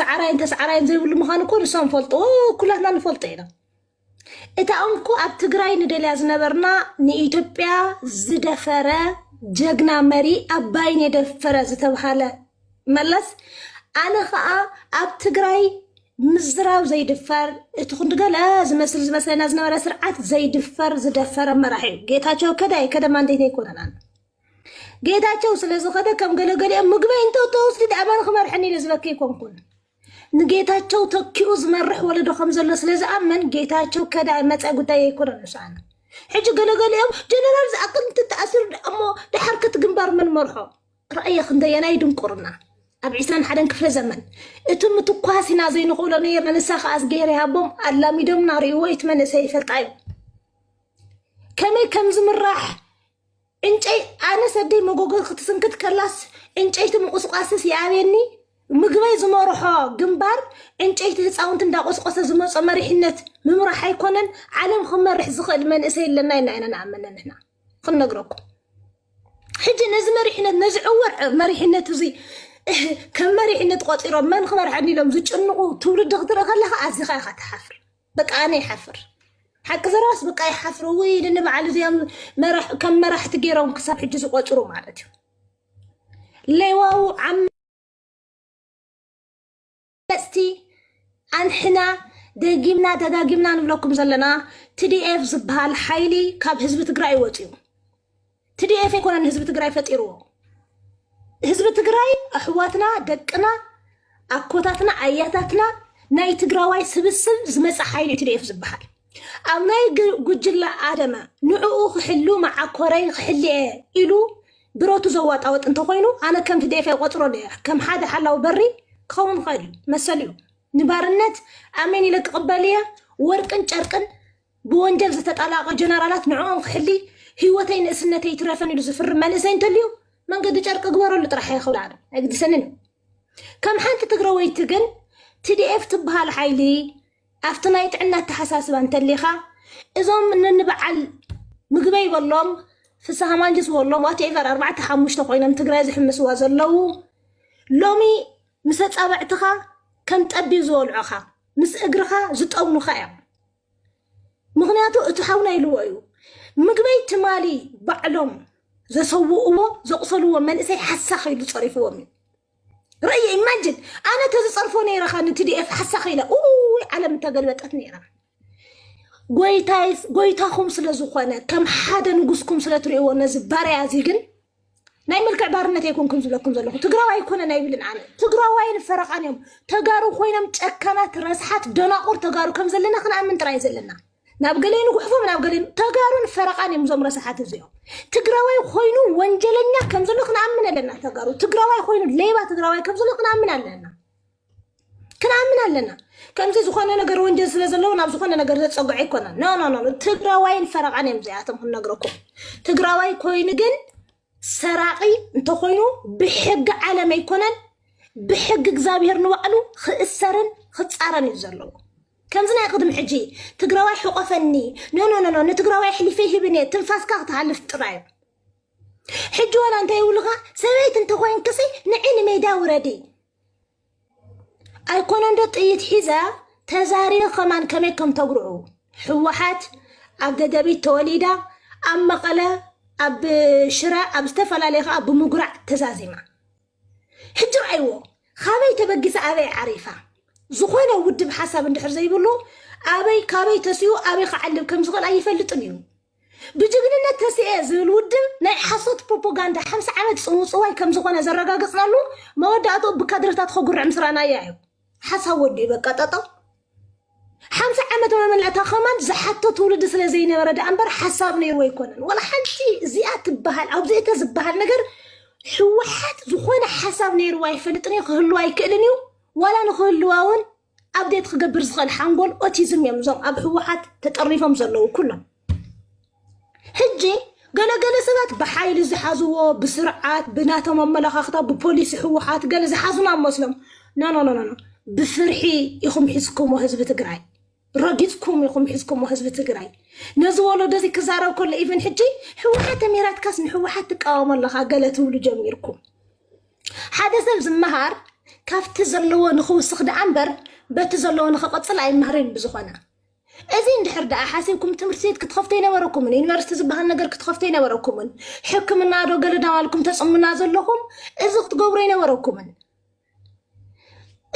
ሰዓራይን ተሰዓራይን ዘይብሉ ምዃኑ እኮ ንሶም ፈልጥዎ ኩላትና ንፈልጦ ኢና እታ እንኮ ኣብ ትግራይ ንደልያ ዝነበርና ንኢትዮጵያ ዝደፈረ ጀግና መሪ ኣባይን የደፈረ ዝተብሃለ መለስ ኣነ ከዓ ኣብ ትግራይ ምዝራብ ዘይድፈር እቲ ክንዲ ገለ ዝመስል ዝመስለና ዝነበረ ስርዓት ዘይድፈር ዝደፈረ መራሒ እዩ ጌታቸው ከደ ኣይከደ ማንዴት ኣይኮነናን ጌታቸው ስለ ዝኸደ ከም ገለገሊኦም ምግበይ እንተ ተወስዱ ድኣ መን ክመርሐኒ ኢለ ዝበኪ ኣይኮንኩን ንጌታቸው ተኪኡ ዝመርሕ ወለዶ ከም ዘሎ ስለ ዝኣመን ጌታቸው ከዳ መፀ ጉዳይ ኣይኮነን ንስኣነ ሕጂ ገለገሊኦም ጀነራል ዝኣክል እንትተኣሲሩ ድኣ እሞ ድሓር ከቲ ግንባር መን መርሖ ራእየ ክንደየናይ ድንቁርና ኣብ ዒስራን ሓደን ክፍለ ዘመን እቲ ምትኳስ ኢና ዘይንኽእሎ ነይርና ንሳ ከዓ እዝግሄር ይሃቦም ኣላሚዶምና ርእይዎ እቲ መንእሰይ ይፈልጣ እዩ ከመይ ከም ዝምራሕ ዕንጨይ ኣነስ ኣደይ መጎጎ ክትስንክት ከላስ ዕንጨይቲ ምቑስቋስስ ይኣብየኒ ምግበይ ዝመርሖ ግንባር ዕንጨይቲ ህፃውንቲ እንዳቆስቆሰ ዝመፆ መሪሕነት ምምራሕ ኣይኮነን ዓለም ክመርሕ ዝኽእል መንእሰይ ኣለና ኢና ኢና ንኣምን ንሕና ክንነግረኩም ሕጂ ነዚ መሪሕነት ነዚ ዕወር መሪሕነት እዚ ከም መሪሕነት ቆፂሮም መን ክመርሐኒ ኢሎም ዝጭንቑ ትውልዲ ክትርኢ ከለካ ኣዚኻ ኢኻ ትሓፍር በቃ ኣነ ይሓፍር ሓቂ ዘረባስ በቃ ይሓፍር ወይ ንንበዓል እዚኦም መራሕ- ከም መራሕቲ ገይሮም ክሳብ ሕጂ ዝቆፅሩ ማለት እዩ ሌዋው ዓመፅቲ ኣንሕና ደጊምና ደጋጊምና ንብለኩም ዘለና ትዲኤፍ ዝበሃል ሓይሊ ካብ ህዝቢ ትግራይ ወፅዩ ትዲኤፍ ኣይኮነን ንህዝቢ ትግራይ ፈጢርዎ። ህዝቢ ትግራይ ኣሕዋትና፣ ደቅና፣ ኣኮታትና፣ ኣያታትና ናይ ትግራዋይ ስብስብ ዝመፀ ሓይሊ እዩ ትዲኤፍ ዝበሃል። ኣብ ናይ ግ- ጉጅለ ኣደመ ንዕኡ ክሕሉ መዓኮረይ ክሕሊ እየ ኢሉ ብረቱ ዘዋጣወጥ እንተኮይኑ ኣነ ከም ትዲኤፍ ኣይቆፅሮን እየ። ከም ሓደ ሓላዊ በሪ ክኸውን ይኽእል እዩ፣ መሰሉ እዩ። ንባርነት ኣሜን ኢለ ክቕበል እየ፣ ወርቅን ጨርቅን ብወንጀል ዝተጣላቐ ጀነራላት ንዕኦም ክሕሊ ህይወተይ ንእስነተይ ይትረፈን ኢሉ ዝፍርም መንእሰይ እንተልዩ መንገዲ ጨርቂ ግበረሉ ጥራሕ እየ ክብል ኣነ ኣይግድሰንን እዩ ከም ሓንቲ ትግረወይቲ ግን ቲዲኤፍ ትበሃል ሓይሊ ኣብቲ ናይ ጥዕና ኣተሓሳስባ እንተሊኻ እዞም ንንበዓል ምግበይ በሎም ፍስሃ ማንጅስ በሎም ዋትኤቨር ኣርባዕተ ሓሙሽተ ኮይኖም ትግራይ ዝሕምስዋ ዘለዉ ሎሚ ምስ ኣፃብዕትኻ ከም ጠቢብ ዝበልዑኻ ምስ እግርኻ ዝጠውኑኻ እዮም ምክንያቱ እቲ ሓውና ኢልዎ እዩ ምግበይ ትማሊ ባዕሎም ዘሰውእዎ ዘቑሰልዎ መንእሰይ ሓሳኽ ኢሉ ፀሪፍዎም እዩ ርእየ ኢማጅን ኣነ ተዝፀርፎ ነይረ ኸ ንትዲኤፍ ሓሳኺ ኢለ ውይ ዓለም እተገልበጠት ነይራ ጎይታኹም ስለ ዝኾነ ከም ሓደ ንጉስኩም ስለ ትርእይዎ ነዚ ባርያ እዚ ግን ናይ ምልክዕ ባርነት ኣይኮንኩም ዝብለኩም ዘለኹ ትግራዋይ ኣይኮነን ኣይብልን ኣነ ትግራዋይን ፈረቃን እዮም ተጋሩ ኮይኖም ጨካናት ረስሓት ደናቁር ተጋሩ ከም ዘለና ክንኣምን ጥራይ ዘለና ናብ ገለይ ንጉሕፎም ናብ ገለይ ተጋሩን ፈረቃን እዮም እዞም ረስሓት እዚኦም ትግራዋይ ኮይኑ ወንጀለኛ ከም ዘሎ ክንኣምን ኣለና ተጋሩ ትግራዋይ ኮይኑ ሌባ ትግራዋይ ከም ዘሎ ክንኣምን ኣለና ክንኣምን ኣለና ከምዚ ዝኾነ ነገር ወንጀል ስለ ዘለዎ ናብ ዝኾነ ነገር ዘፀግዖ ኣይኮነን ኖ ኖ ኖ ትግራዋይን ፈረቓን እዮም እዚኣቶም ክንነግረኩም ትግራዋይ ኮይኑ ግን ሰራቂ እንተኮይኑ ብሕጊ ዓለም ኣይኮነን ብሕጊ እግዚኣብሄር ንባዕሉ ክእሰርን ክፃረን እዩ ዘለዎ ከምዚ ናይ ቅድሚ ሕጂ ትግራዋይ ሕቆፈኒ ኖ ኖ ኖ ኖ ንትግራዋይ ኣሕሊፈ ይህብን እየ ትንፋስካ ክትሃልፍ ጥራይ እዩ ሕጂ ዋላ እንታይ ይብሉኻ ሰበይቲ እንተኮይንክሲ ንዒ ንሜዳ ውረዲ ኣይኮነን ዶ ጥይት ሒዛ ተዛሪበ ከማን ከመይ ከም ተጉርዑ ህወሓት ኣብ ደደቢት ተወሊዳ ኣብ መቐለ ኣብ ሽረ ኣብ ዝተፈላለየ ከዓ ብምጉራዕ ተዛዚማ ሕጂ ረኣይዎ ካበይ ተበጊሳ ኣበይ ዓሪፋ ዝኾነ ውድብ ሓሳብ እንድሕር ዘይብሉ ኣበይ ካበይ ተሲኡ ኣበይ ክዓልብ ከም ዝኽእል ኣይፈልጥን እዩ ብጅግንነት ተሲኤ ዝብል ውድብ ናይ ሓሶት ፕሮፖጋንዳ ሓምሳ ዓመት ጽውጽዋይ ከም ዝኾነ ዘረጋግጽናሉ መወዳእትኡ ብካድረታት ኸጉርዕ ምስ ረኣናያ እዩ። ሓሳብ ወዲኡ በቃ ጠጠው። ሓምሳ ዓመት መመልዕ እታ ኸማንድ ዝሓቶ ትውልዲ ስለ ዘይነበረ ደኣ እምበር ሓሳብ ነይርዎ ኣይኮነን። ወላ ሓንቲ እዚኣ ትበሃል ኣብዚ እተ ዝበሃል ነገር ህወሓት ዝኾነ ሓሳብ ነይርዎ ኣይፈልጥን እዩ ክህልዋ ኣይክእልን እዩ ዋላ ንክህልዋ እውን ኣብዴት ክገብር ዝኽእል ሓንጎል ኦቲዝም እዮም እዞም ኣብ ህወሓት ተጠርኒፎም ዘለዉ ኩሎም። ሕጂ ገለገለ ሰባት ብሓይሊ ዝሓዝዎ ብስርዓት ብናቶም ኣመለኻኽታ ብፖሊሲ ህወሓት ገለ ዝሓዙና መስሎም ኖኖኖኖ ብፍርሒ ኢኹም ሒዝኩሞ ህዝቢ ትግራይ ረጊፅኩም ኢኹም ሒዝኩሞ ህዝቢ ትግራይ ነዚ ወለዶ እዚ ክዛረብ ከሎ ኢቨን ሕጂ ህወሓት ተሚራትካስ ንህወሓት ትቃወሞ ኣለኻ ገለ ትብሉ ጀሚርኩም ሓደ ሰብ ዝመሃር ካብቲ ዘለዎ ንኽውስኽ ደኣ እምበር በቲ ዘለዎ ንኽቕጽል ኣይመሃርን እዩ ብዝኾነ እዚ እንድሕር ደኣ ሓሲብኩም ትምህርቲ ቤት ክትኸፍቱ ኣይነበረኩምን ዩኒቨርሲቲ ዝበሃል ነገር ክትኸፍቱ ኣይነበረኩምን ሕክምና ዶ ገለ ዳባልኩም ተጽሙና ዘለኹም እዚ ክትገብሩ ኣይነበረኩምን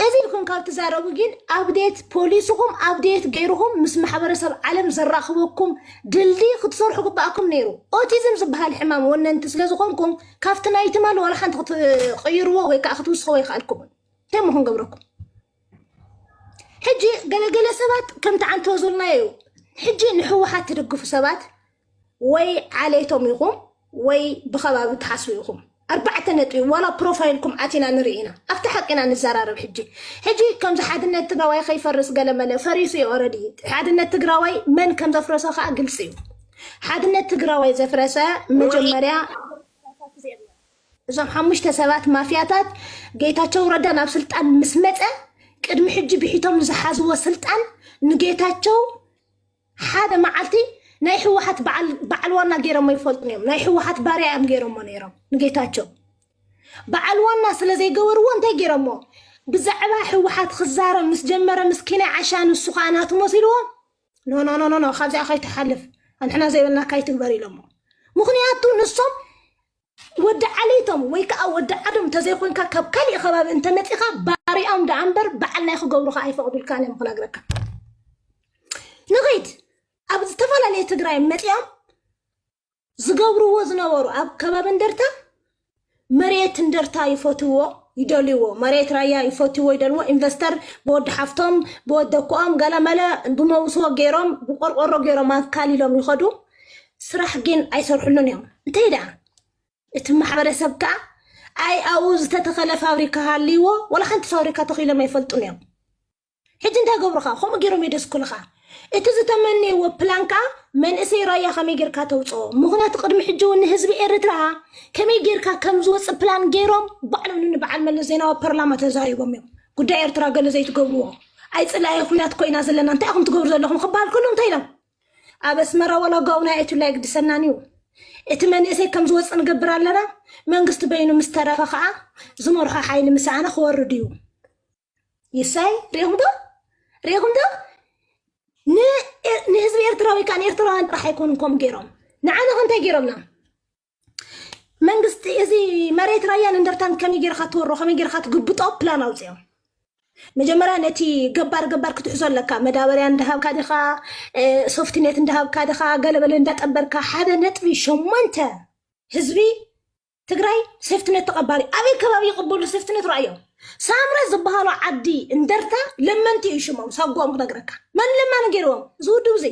እዚ ኢልኩም ካብ ትዛረቡ ጊን ኣብዴት ፖሊስኹም ኣብዴት ገይርኹም ምስ ማሕበረሰብ ዓለም ዘራኽበኩም ድልድይ ክትሰርሑ ግበኣኩም ነይሩ። ኦቲዝም ዝበሃል ሕማም ወነንቲ ስለ ዝኾንኩም ካብቲ ናይ ትማል ዋላ ሓንቲ ክትቕይርዎ ወይ ከዓ ክትውስኽዎ ኣይከኣልኩምን። እንታይ እሞ ክንገብረኩም? ሕጂ ገለገለ ሰባት ከምቲ ዓንተወ ዘልናዮ እዩ። ሕጂ ንሕወሓት ትድግፉ ሰባት ወይ ዓሌቶም ኢኹም ወይ ብኸባቢ ትሓስቡ ኢኹም ኣርባዕተ ነጥቢ ዋላ ፕሮፋይልኩም ኣቲና ንርኢ ኢና ኣብቲ ሓቂ ኢና ንዘራረብ ሕጂ ሕጂ ከምዚ ሓድነት ትግራዋይ ከይፈርስ ገለመለ ፈሪሱ እዩ ኦረዲ ሓድነት ትግራዋይ መን ከም ዘፍረሰ ከዓ ግልፂ እዩ ሓድነት ትግራዋይ ዘፍረሰ መጀመርያ እዞም ሓሙሽተ ሰባት ማፍያታት ጌታቸው ረዳ ናብ ስልጣን ምስ መፀ ቅድሚ ሕጂ ብሒቶም ንዝሓዝዎ ስልጣን ንጌታቸው ሓደ መዓልቲ ናይ ሕወሓት በዓል በዓል ዋና ገይሮሞ ይፈልጡን እዮም ናይ ሕወሓት ባርያ እዮም ገይሮሞ ነይሮም ንጌታቸው በዓል ዋና ስለ ዘይገበርዎ እንታይ ገይሮሞ ብዛዕባ ሕወሓት ክዛረብ ምስ ጀመረ ምስ ኪናይ ዓሻ ንሱ ከዓ ናቱ መሲልዎ ኖ ኖ ኖ ኖ ኖ ካብዚኣ ከይትሓልፍ ኣንሕና ዘይበልና ካይትግበር ኢሎሞ ምክንያቱ ንሶም ወዲ ዓሌቶም ወይ ከኣ ወዲ ዓዶም ተዘይኮንካ ካብ ካሊእ ከባቢ እንተመጺኻ ባሪያኦም ደኣ እምበር በዓል ናይ ክገብሩኻ ኣይፈቕዱልካን እዮም ክነግረካ ንኺድ ኣብ ዝተፈላለየ ትግራይ መጺኦም ዝገብርዎ ዝነበሩ ኣብ ከባቢ እንደርታ መሬት እንደርታ ይፈትዎ ይደልዎ መሬት ራያ ይፈትዎ ይደልዎ ኢንቨስተር ብወዲ ሓፍቶም ብወደኮኦም ገለመለ ብመውስቦ ገይሮም ብቆርቆሮ ገይሮም ኣካሊሎም ይኸዱ ስራሕ ግን ኣይሰርሕሉን እዮም እንታይ ደኣ እቲ ማሕበረሰብ ከዓ ኣይ ኣብኡ ዝተተኸለ ፋብሪካ ሃልይዎ ዋላ ሓንቲ ፋብሪካ ተኺሎም ኣይፈልጡን እዮም ሕጂ እንታይ ገብሩኻ ከምኡ ገይሮም የደስኩልኻ እቲ ዝተመነይዎ ፕላን ከዓ መንእሰይ ራያ ከመይ ጌርካ ተውፅኦ ምክንያቱ ቅድሚ ሕጂ እውን ንህዝቢ ኤርትራ ከመይ ጌርካ ከም ዝወፅእ ፕላን ገይሮም ባዕሎም ንበዓል መለስ ዜናዊ ፓርላማ ተዛሪቦም እዮም ጉዳይ ኤርትራ ገለ ዘይትገብርዎ ኣይ ፅላኢ ኩናት ኮይና ዘለና እንታይ ኢኹም ትገብሩ ዘለኹም ክበሃል ከሎ እንታይ ኢሎም ኣብ ኣስመራ ወላ ጋውና ኣይእቱላ ኣይግድሰናን እዩ እቲ መንእሰይ ከም ዝወፅእ ንገብር ኣለና መንግስቲ በይኑ ምስ ተረፈ ከዓ ዝመርሖ ሓይሊ ምሰኣነ ክወርድ እዩ ይሳይ ሪኢኹም ዶ ሪኢኹም ዶ ንህዝቢ ኤርትራዊ ከዓ ንኤርትራውያን ጥራሕ ኣይኮኑን ከምኡ ገይሮም ንዓና ከ እንታይ ገይሮምና መንግስቲ እዚ መሬት ራያን እንደርታን ከመይ ጌርካ ትወሮ ከመይ ጌርካ ትግብጦ ፕላን ኣውፅኦም መጀመርያ ነቲ ገባር ገባር ክትሕዞ ኣለካ መዳበርያ እንዳሃብካ ድኻ እ፣ ሶፍትኔት እንዳሃብካ ድኻ ገለበለ እንዳጠበርካ ሓደ ነጥቢ ሸሞንተ ህዝቢ ትግራይ ሴፍትኔት ተቐባሊ ኣበይ ከባቢ ይቕበሉ ሴፍትኔት ራእዮ ሳምረ ዝበሃሉ ዓዲ እንደርታ ለመንቲ እዩ ሽሞም ሳጓኦም ክነግረካ መን ለማኒ ገይርዎም እዚ ውድብ እዚ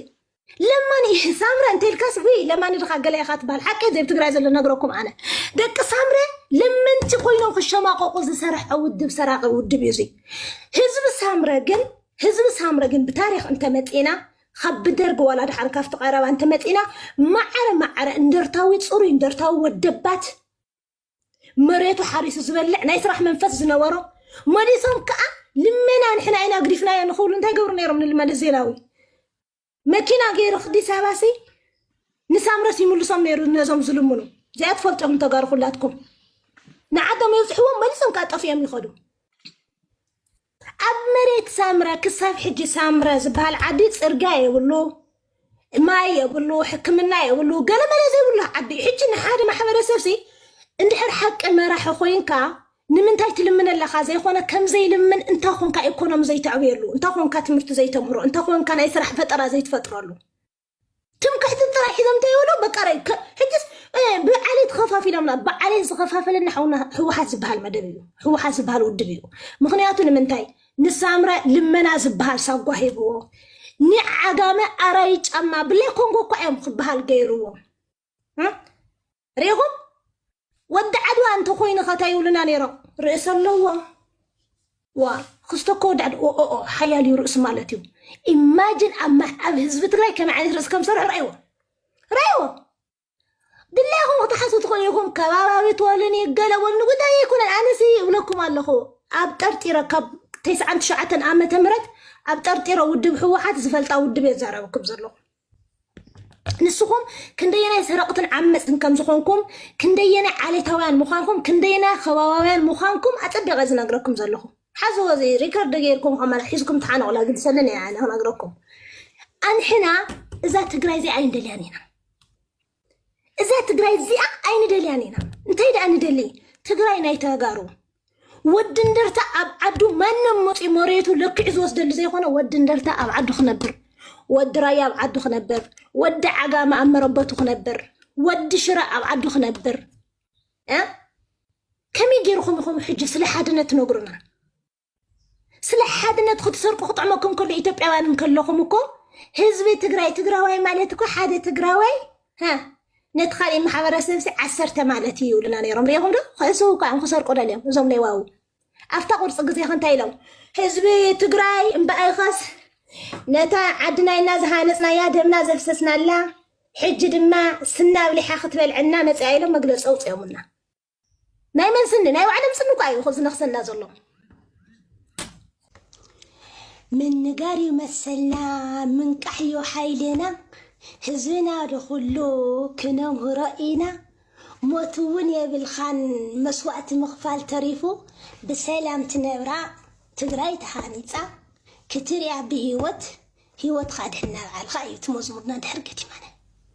ለማኒ ሳምረ እንተልካስ ዊ ለማኒ ድካ ገለ ኢካ ትበሃል ሓቂ ዘብ ትግራይ ዘሎ ነግረኩም ኣነ ደቂ ሳምረ ለመንቲ ኮይኖም ክሸማቀቁ ዝሰርሐ ውድብ ሰራቂ ውድብ እዩ እዚ ህዝቢ ሳምረ ግን ህዝቢ ሳምረ ግን ብታሪክ እንተመፂና ካብ ብደርጊ ዋላ ድሓን ካብቲ ቀረባ እንተመፂና ማዕረ ማዕረ እንደርታዊ ፅሩይ እንደርታዊ ወደባት መሬቱ ሓሪሱ ዝበልዕ ናይ ስራሕ መንፈስ ዝነበሮ መሊሶም ከዓ ልመና ንሕና ኢና ግዲፍናዮ ንክብሉ እንታይ ገብሩ ነይሮም ንልመለስ ዜናዊ መኪና ገይሩ ክዲስ ኣባሲ ንሳምረስ ይምልሶም ነይሩ ነዞም ዝልምኑ እዚኣ ትፈልጦም ተጋሩ ኩላትኩም ንዓዶም የብፅሕዎም መሊሶም ከዓ ጠፊኦም ይኸዱ ኣብ መሬት ሳምረ ክሳብ ሕጂ ሳምረ ዝበሃል ዓዲ ጽርግያ የብሉ፣ ማይ የብሉ፣ ሕክምና የብሉ፣ ገለመለ ዘይብሉ ዓዲ እዩ። ሕጂ ንሓደ ማሕበረሰብሲ እንድሕር ሓቂ መራሒ ኮይንካ ንምንታይ ትልምን ኣለኻ ዘይኮነ ከም ዘይልምን እንታይ ኮንካ ኢኮኖሚ ዘይተዕብየሉ እንታይ ኮንካ ትምህርቲ ዘይተምህሮ እንታይ ኮንካ ናይ ስራሕ ፈጠራ ዘይትፈጥረሉ ትምክሕቲ ጥራይ ሒዞም እንታይ ይብሉ በቃ ራይ ከ- ሕጅስ እ፣ ብዓሌት ተኸፋፊሎምና ብዓሌት ዝኸፋፈለና ሓውና ህወሓት ዝበሃል መደብ እዩ ህወሓት ዝበሃል ውድብ እዩ ምክንያቱ ንምንታይ ንሳምረ ልመና ዝበሃል ሳጓ ሂብዎ ንዓጋመ ኣራይ ጫማ ብላይ ኮንጎ እኳ እዮም ክበሃል ገይርዎም እ? ሪኢኹም ወዲ ዓድዋ እንተኮይኑ ከ እንታይ ይብሉና ነይሮም ርእሲ ኣለዎ ዋ ክስቶ እኮ ወዲ ዓድዋ ኦኦ ሓያል እዩ ርእሱ ማለት እዩ ኢማጅን ኣብ ማ- ኣብ ህዝቢ ትግራይ ከመይ ዓይነት ርእሲ ከም ዝሰርሑ ረእይዎ ረእይዎ ድላይኹም ክትሓሱ ትኽእሉ ኢኹም ከባባዊ ትበሉኒ ገለ በሉኒ ጉዳይ ኣይኮነን ኣነሲ እብለኩም ኣለኹ ኣብ ጠርጢረ ካብ ተስዓን ትሽዓተን ዓመተ ምህረት ኣብ ጠርጢረ ውድብ ህወሓት ዝፈልጣ ውድብ እየ ዛረበኩም ዘለኹ ንስኹም ክንደየናይ ሰረቕትን ዓመፅትን ከም ዝኾንኩም ክንደየናይ ዓሌታውያን ምዃንኩም ክንደየናይ ከባባውያን ምዃንኩም ኣፀቢቐ ዝነግረኩም ዘለኹ ሓዝዎ እዚ ሪከርድ ገይርኩም ከመላ ሒዝኩም ተሓነቑላ ግድሰለን እያ ክነግረኩም ኣንሕና እዛ ትግራይ እዚኣ ኣይንደልያን ኢና እዛ ትግራይ እዚኣ ኣይንደልያን ኢና እንታይ ደኣ ንደሊ ትግራይ ናይ ተጋሩ ወዲ እንደርታ ኣብ ዓዱ ማንም መፅኡ መሬቱ ለኪዑ ዝወስደሉ ዘይኮነ ወዲ እንደርታ ኣብ ዓዱ ክነብር ወዲ ራያ ኣብ ዓዱ ክነብር ወዲ ዓጋመ ኣብ መረበቱ ክነብር ወዲ ሽረ ኣብ ዓዱ ክነብር እ? ከመይ ገይርኹም ኢኹም ሕጂ ስለ ሓድነት ትነግሩና ስለ ሓድነት ክትሰርቁ ክጥዕመኩም ከሎ ኢትዮጵያውያን እንከለኹም እኮ ህዝቢ ትግራይ ትግራዋይ ማለት እኮ ሓደ ትግራዋይ ነቲ ካልእ ማሕበረሰብ ሲ ዓሰርተ ማለት እዩ ይብሉና ነይሮም ሪኹም ዶ ክእስው ከዓ ንክሰርቁ ደልዮም እዞም ሌዋዊ ኣብታ ቁርፂ ግዜ ከንታይ ኢሎም ህዝቢ ትግራይ እምበኣይኸስ ነታ ዓድናይና ዝሃነፅናያ ደምና ዘፍሰስናላ ሕጂ ድማ ስናብሊሓ ክትበልዐና መፅኣ ኢሎም መግለፂ ኣውፅኦምና ናይ መን ስኒ ናይ ባዕሎም ስኒ እኳ እዩ ዝነኽሰና ዘሎ ምንጋር እዩ መሰልና ምንቃሕ እዩ ሓይልና ህዝብና ድኹሉ ክነምህሮ ኢና ሞት እውን የብልኻን መስዋእቲ ምኽፋል ተሪፉ ብሰላም ትነብራ ትግራይ ተሃኒፃ ክትሪያ ብሂወት ሂወትካ ድሕና በዓልካ እዩ እቲ መዝሙርና ድሕር ገዲማና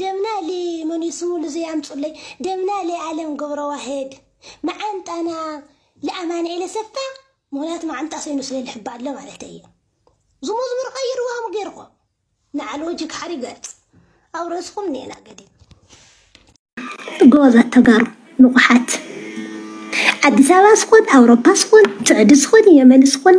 ደምና እሊ መን እዩ ስሙ ልዙይ ኣምፁለይ ደምና እሊ ኣለም ገብረዋህድ መዓንጣና ልኣማንኤል ኣሰፋ ምክንያቱ መዓንጣ ሰይኑ ስለ ልሕባ ኣሎ ማለት እዩ ዝመዝሙር ቀይርዎ ከም ገይርኮ ንዓል ወጂ ክሓሪ ገርፅ ኣብ ርእስኹም ኔና ገዲ ጎበዛት ተጋሩ ንቑሓት ኣዲስ ኣበባ ስኹን ኣውሮፓ ስኹን ስዑዲ ስኹን የመን ስኹን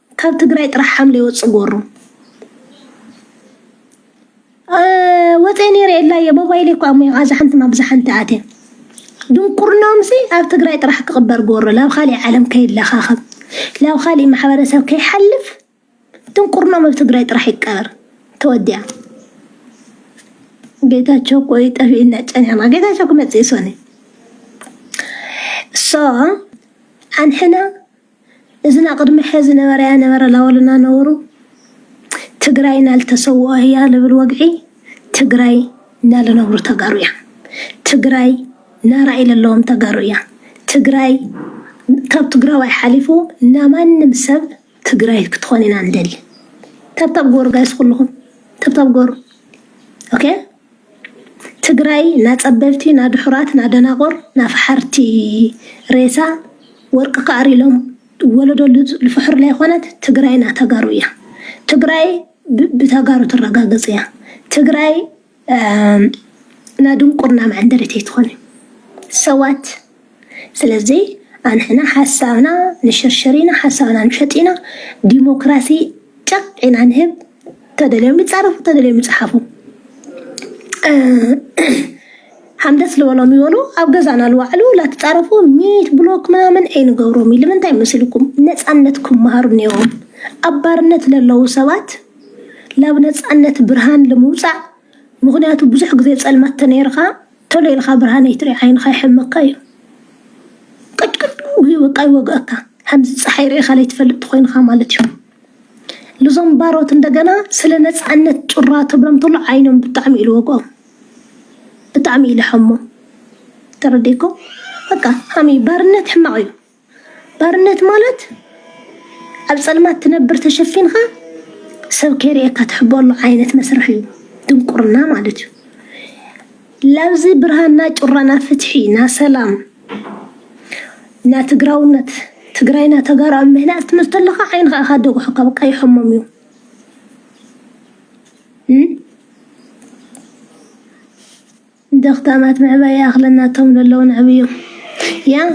ካብ ትግራይ ጥራሕ ሓምሊ ይወፅእ ጎሩ ወፀ ነይረ የላየ ሞባይል እኮ ኣሞ ኣዛ ሓንቲ ናብ ዛ ሓንቲ ኣትየ ድንቁርናምሲ ኣብ ትግራይ ጥራሕ ክቕበር ጎሮ ናብ ካሊእ ዓለም ከይለኻኸብ ናብ ካሊእ ማሕበረሰብ ከይሓልፍ ድንቁርናም ኣብ ትግራይ ጥራሕ ይቀበር ተወዲያ ጌታቸው እኮ ጠፊእና ጨኒሕና ጌታቸው ክመፅእ ይሶኒ ሶ ኣንሕና እዝን ኣቅድሚ ሐዚ ነበረያ ነበረ ላወልና ነበሩ ትግራይ ናልተሰውኦ ህያ ልብል ወግዒ ትግራይ ናልነብሩ ተጋሩ እያ ትግራይ ናራእይ ለለዎም ተጋሩ እያ ትግራይ ካብ ትግራዋይ ሓሊፉ ናማንም ሰብ ትግራይ ክትኾን ኢና ንደሊ ተብታብ ጎሩ ጋይስ ኩልኹም ተብታብ ጎሩ ኦኬ ትግራይ ናፀበብቲ ናድሑራት ናደናቁር ናፋሓርቲ ሬሳ ወርቂ ክኣሪ ኢሎም ወለዶ ልፍሕሩላ ኣይኮነት ትግራይ ናተጋሩ እያ ትግራይ ብተጋሩ ትረጋገፅ እያ ትግራይ ናድንቁርና መዐንደሪት ኣይትኮንን ሰዋት ስለዚ ኣንሕና ሓሳብና ንሽርሽር ኢና፣ ሓሳብና ንሸጥ ኢና፣ ዲሞክራሲ ጨቕ ኢና ንህብ፣ ተደልዮም ይጻረፉ ተደልዮም ይጽሓፉ። ሓምደስ ልበሎም ይበሉ ኣብ ገዛና ልዋዕሉ ላትፃረፉ ሚት ብሎክ ምናምን ኣይንገብሮም እዩ ልምንታይ መስልኩም ነፃነት ክመሃሩ ነይሮም ኣብ ባርነት ለለዉ ሰባት ላብ ነፃነት ብርሃን ልምውፃእ ምክንያቱ ብዙሕ ግዜ ፀልማት ተነይርካ ቶሎ ኢልኻ ብርሃን ኣይትሪኢ ዓይንኻ ይሕመካ እዩ ቅጭቅጭ በቃ ይወግኣካ ከምዚ ፀሓይ ርኢኻ ለይትፈልጥ ተኾይንኻ ማለት እዩ ልዞም ባሮት እንደገና ስለ ነፃነት ጩራ ትብሎም ተሎ ዓይኖም ብጣዕሚ እዩ ልወግኦም ብጣዕሚ እዩ ልሐሞ ተረዲእኮ በቃ ሃሚ ባርነት ሕማቕ እዩ ባርነት ማለት ኣብ ፀልማት ትነብር ተሸፊንካ ሰብ ከይርእየካ ትሕበሉ ዓይነት መስርሕ እዩ፣ ድንቁርና ማለት እዩ። ላብዚ ብርሃና ጩራና ፍትሒ ና ሰላም ና ትግራውነት ትግራይና ተጋሩ ኣብ ምህናፅ ትምህርቲ ኣለካ ዓይንካ ኢካ ደጉሕካ በቃ ይሐሞም እዩ ደኽታማት ምዕባይ ይኣኽለን ናቶም ለለዉ ነዕብዩ ያ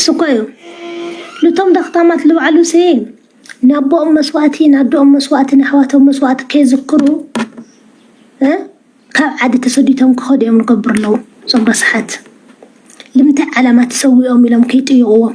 ስኮዩ ልቶም ደኽታማት ልባዕሉ ስይ ናቦኦም መስዋእቲ ናዶኦም መስዋእቲ ናሕዋቶም መስዋእቲ ከይዝክሩ ካብ ዓዲ ተሰዲቶም ክኸዱ እዮም ንገብሩ ኣለዉ እዞም ረስሓት ልምንታይ ዓላማ ተሰዊኦም ኢሎም ከይጥይቕዎም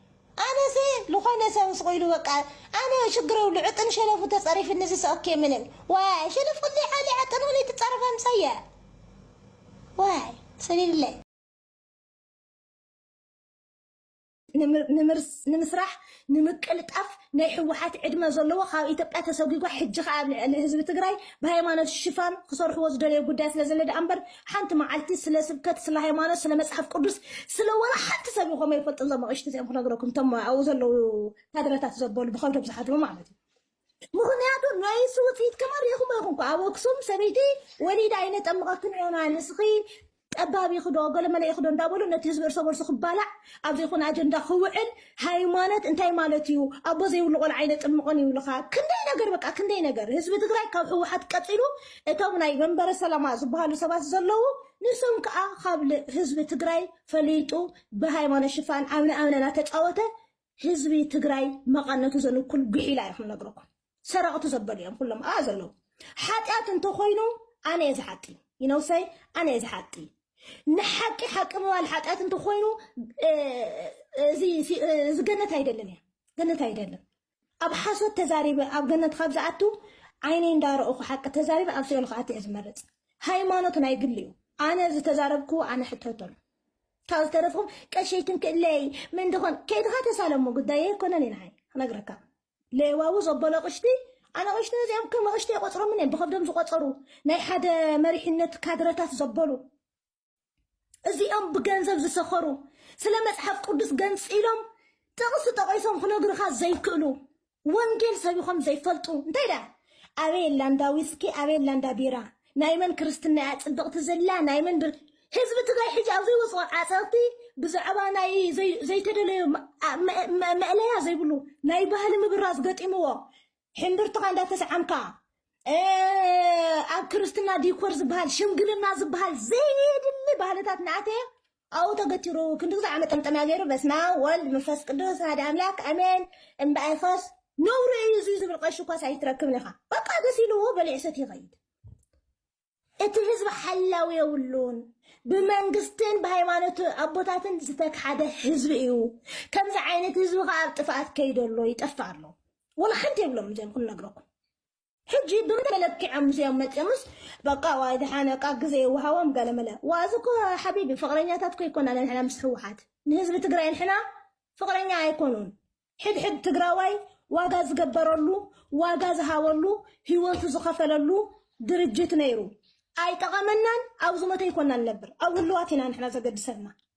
ኣነሰ ልኾነ ሰብ ስቁኢሉ በቃ ኣነ ሽግር የብሉ ዕጥን ሸለፉ ተጸሪፍኒ ዝሰ ኦኬ ምንም ዋይ ሸለፍ ክልይ ዓሊ ዕጥን ሆነይ ትጻረፍ ኣምሳያ ዋይ ሰሊልለ ንምስራሕ ንምቅልጣፍ ናይ ሕወሓት ዕድመ ዘለዎ ካብ ኢትዮጵያ ተሰጒጓ ሕጂ ከዓ ኣብ ልዕሊ ህዝቢ ትግራይ ብሃይማኖት ሽፋን ክሰርሕዎ ዝደለዩ ጉዳይ ስለ ዘለ ደኣ እምበር ሓንቲ መዓልቲ ስለ ስብከት ስለ ሃይማኖት ስለ መጽሓፍ ቅዱስ ስለ ወላ ሓንቲ ሰብ ይኾም ኣይፈልጥን ዞም ኣቕሽቲ እዚኦም ክነግረኩም እቶም ኣብኡ ዘለዉ ካድረታት ዘበሉ ብኸብዶም ዝሓድሩ ማለት እዩ ምክንያቱ ናይ ንሱ ውፅኢት ከማ ሪኢኹሞ ይኹን ኳ ኣብ ኣክሱም ሰበይቲ ወሊዳ ኣይነጠምቐክን ኢና ንስኺ ጠባብ ይኽዶ ገለመለ ይኽዶ እንዳበሉ ነቲ ህዝቢ እርሰ በርሱ ክባላዕ ኣብ ዘይኮነ ኣጀንዳ ክውዕል ሃይማኖት እንታይ ማለት እዩ ኣቦ ዘይብሉ ቆልዓ ኣይነጥምቆን ይብልኻ ክንደይ ነገር በቃ ክንደይ ነገር ህዝቢ ትግራይ ካብ ህወሓት ቀፂሉ እቶም ናይ መንበረ ሰላማ ዝበሃሉ ሰባት ዘለዉ ንሶም ከዓ ካብ ህዝቢ ትግራይ ፈሊጡ ብሃይማኖት ሽፋን ኣምነ ኣምነና ተፃወተ ህዝቢ ትግራይ መቐነቱ ዘንኩል ጉሒላ እዩ ክንነግረኩም ሰረቕቲ ዘበሉ እዮም ኩሎም ኣብኣ ዘለዉ ሓጢኣት እንተኾይኑ ኣነ እየ ዝሓጢ ይነውሰይ ኣነ እየ ዝሓጢ ንሓቂ ሓቂ ምባል ሓጢኣት እንተኾይኑ እዚ ገነት ኣይደልን እያ ገነት ኣይደልን ኣብ ሓሶት ተዛሪበ ኣብ ገነት ካብ ዝኣቱ ዓይነይ እንዳረእኹ ሓቂ ተዛሪበ ኣብ ሲኦል ክኣቱ እየ ዝመርፅ ሃይማኖት ናይ ግሊ እዩ ኣነ ዝተዛረብኩ ኣነ ሕተተሉ ካብ ዝተረፍኹም ቀሸይትን ክእለይ ምን ድኾን ከይድኻ ተሳለሞ ጉዳይ ኣይኮነን እዩ ንዓይ ክነግረካ ሌዋዊ ዘበሎ ኣቕሽቲ ኣናቕሽቲ እዚኣም ከም ኣቕሽቲ ኣይቆጽሮምን እየም ብኸብዶም ዝቆጸሩ ናይ ሓደ መሪሕነት ካድረታት ዘበሉ እዚኦም ብገንዘብ ዝሰኸሩ ስለ መጽሓፍ ቅዱስ ገንጺሎም ጥቕሲ ጠቒሶም ክነግሩኻ ዘይክእሉ ወንጌል ሰቢኾም ዘይፈልጡ እንታይ ደኣ ኣበየላ እንዳዊስኪ ኣበየላ እንዳ ቢራ ናይ መን ክርስትና እያ ጽብቕቲ ዘላ ናይ መን ብር ህዝቢ ትግራይ ሕጂ ኣብ ዘይወፅኦ ዓፀቕቲ ብዛዕባ ናይ ዘይተደለዩ መእለያ ዘይብሉ ናይ ባህሊ ምብራዝ ገጢምዎ ሕምብርትኻ እንዳተሰዓምካ ኣብ ክርስትና ዲኮር ዝበሃል ሽምግልና ዝበሃል ዘይድሊ ባህልታት ናእተየ ኣብኡ ተገቲሩ ክንዲ ግዝኣ መጠምጠምያ ገይሩ በስማብ ወልድ ምፈስ ቅዱስ ኣሃደ ኣምላክ ኣሜን እምበኣይ ኸስ ነውሪ እዩ እዙይ ዝብል ቐሺ እኳስ ኣይትረክብን ኢኻ በቃ ደስ ኢልዎ በሊዑ ሰት ይኸይድ እቲ ህዝቢ ሓላዊ የብሉን ብመንግስትን ብሃይማኖት ኣቦታትን ዝተክሓደ ህዝቢ እዩ ከምዚ ዓይነት ህዝቢ ከዓ ኣብ ጥፍኣት ከይዶ ኣሎ ይጠፍእ ኣሎ ወላ ሓንቲ የብሎም እዚኦም ክንነግረኩም ሕጂ ብመለክዕም ምስኦም መጺኦምስ በቃ ዋይ ድሓን በቃ ግዜ ይወሃቦም ገለ መለ ዋእዚ እኮ ሓቢቢ ፍቅረኛታት እኮ ኣይኮናን ንሕና ምስ ህወሓት ንህዝቢ ትግራይ ንሕና ፍቅረኛ ኣይኮኑን ሕድሕድ ትግራዋይ ዋጋ ዝገበረሉ ዋጋ ዝሃበሉ ህይወቱ ዝኸፈለሉ ድርጅት ነይሩ ኣይጠቐመናን ኣብ ዝሞተ ይኮና ንነብር ኣብ ህልዋት ኢና ንሕና ዘገድሰና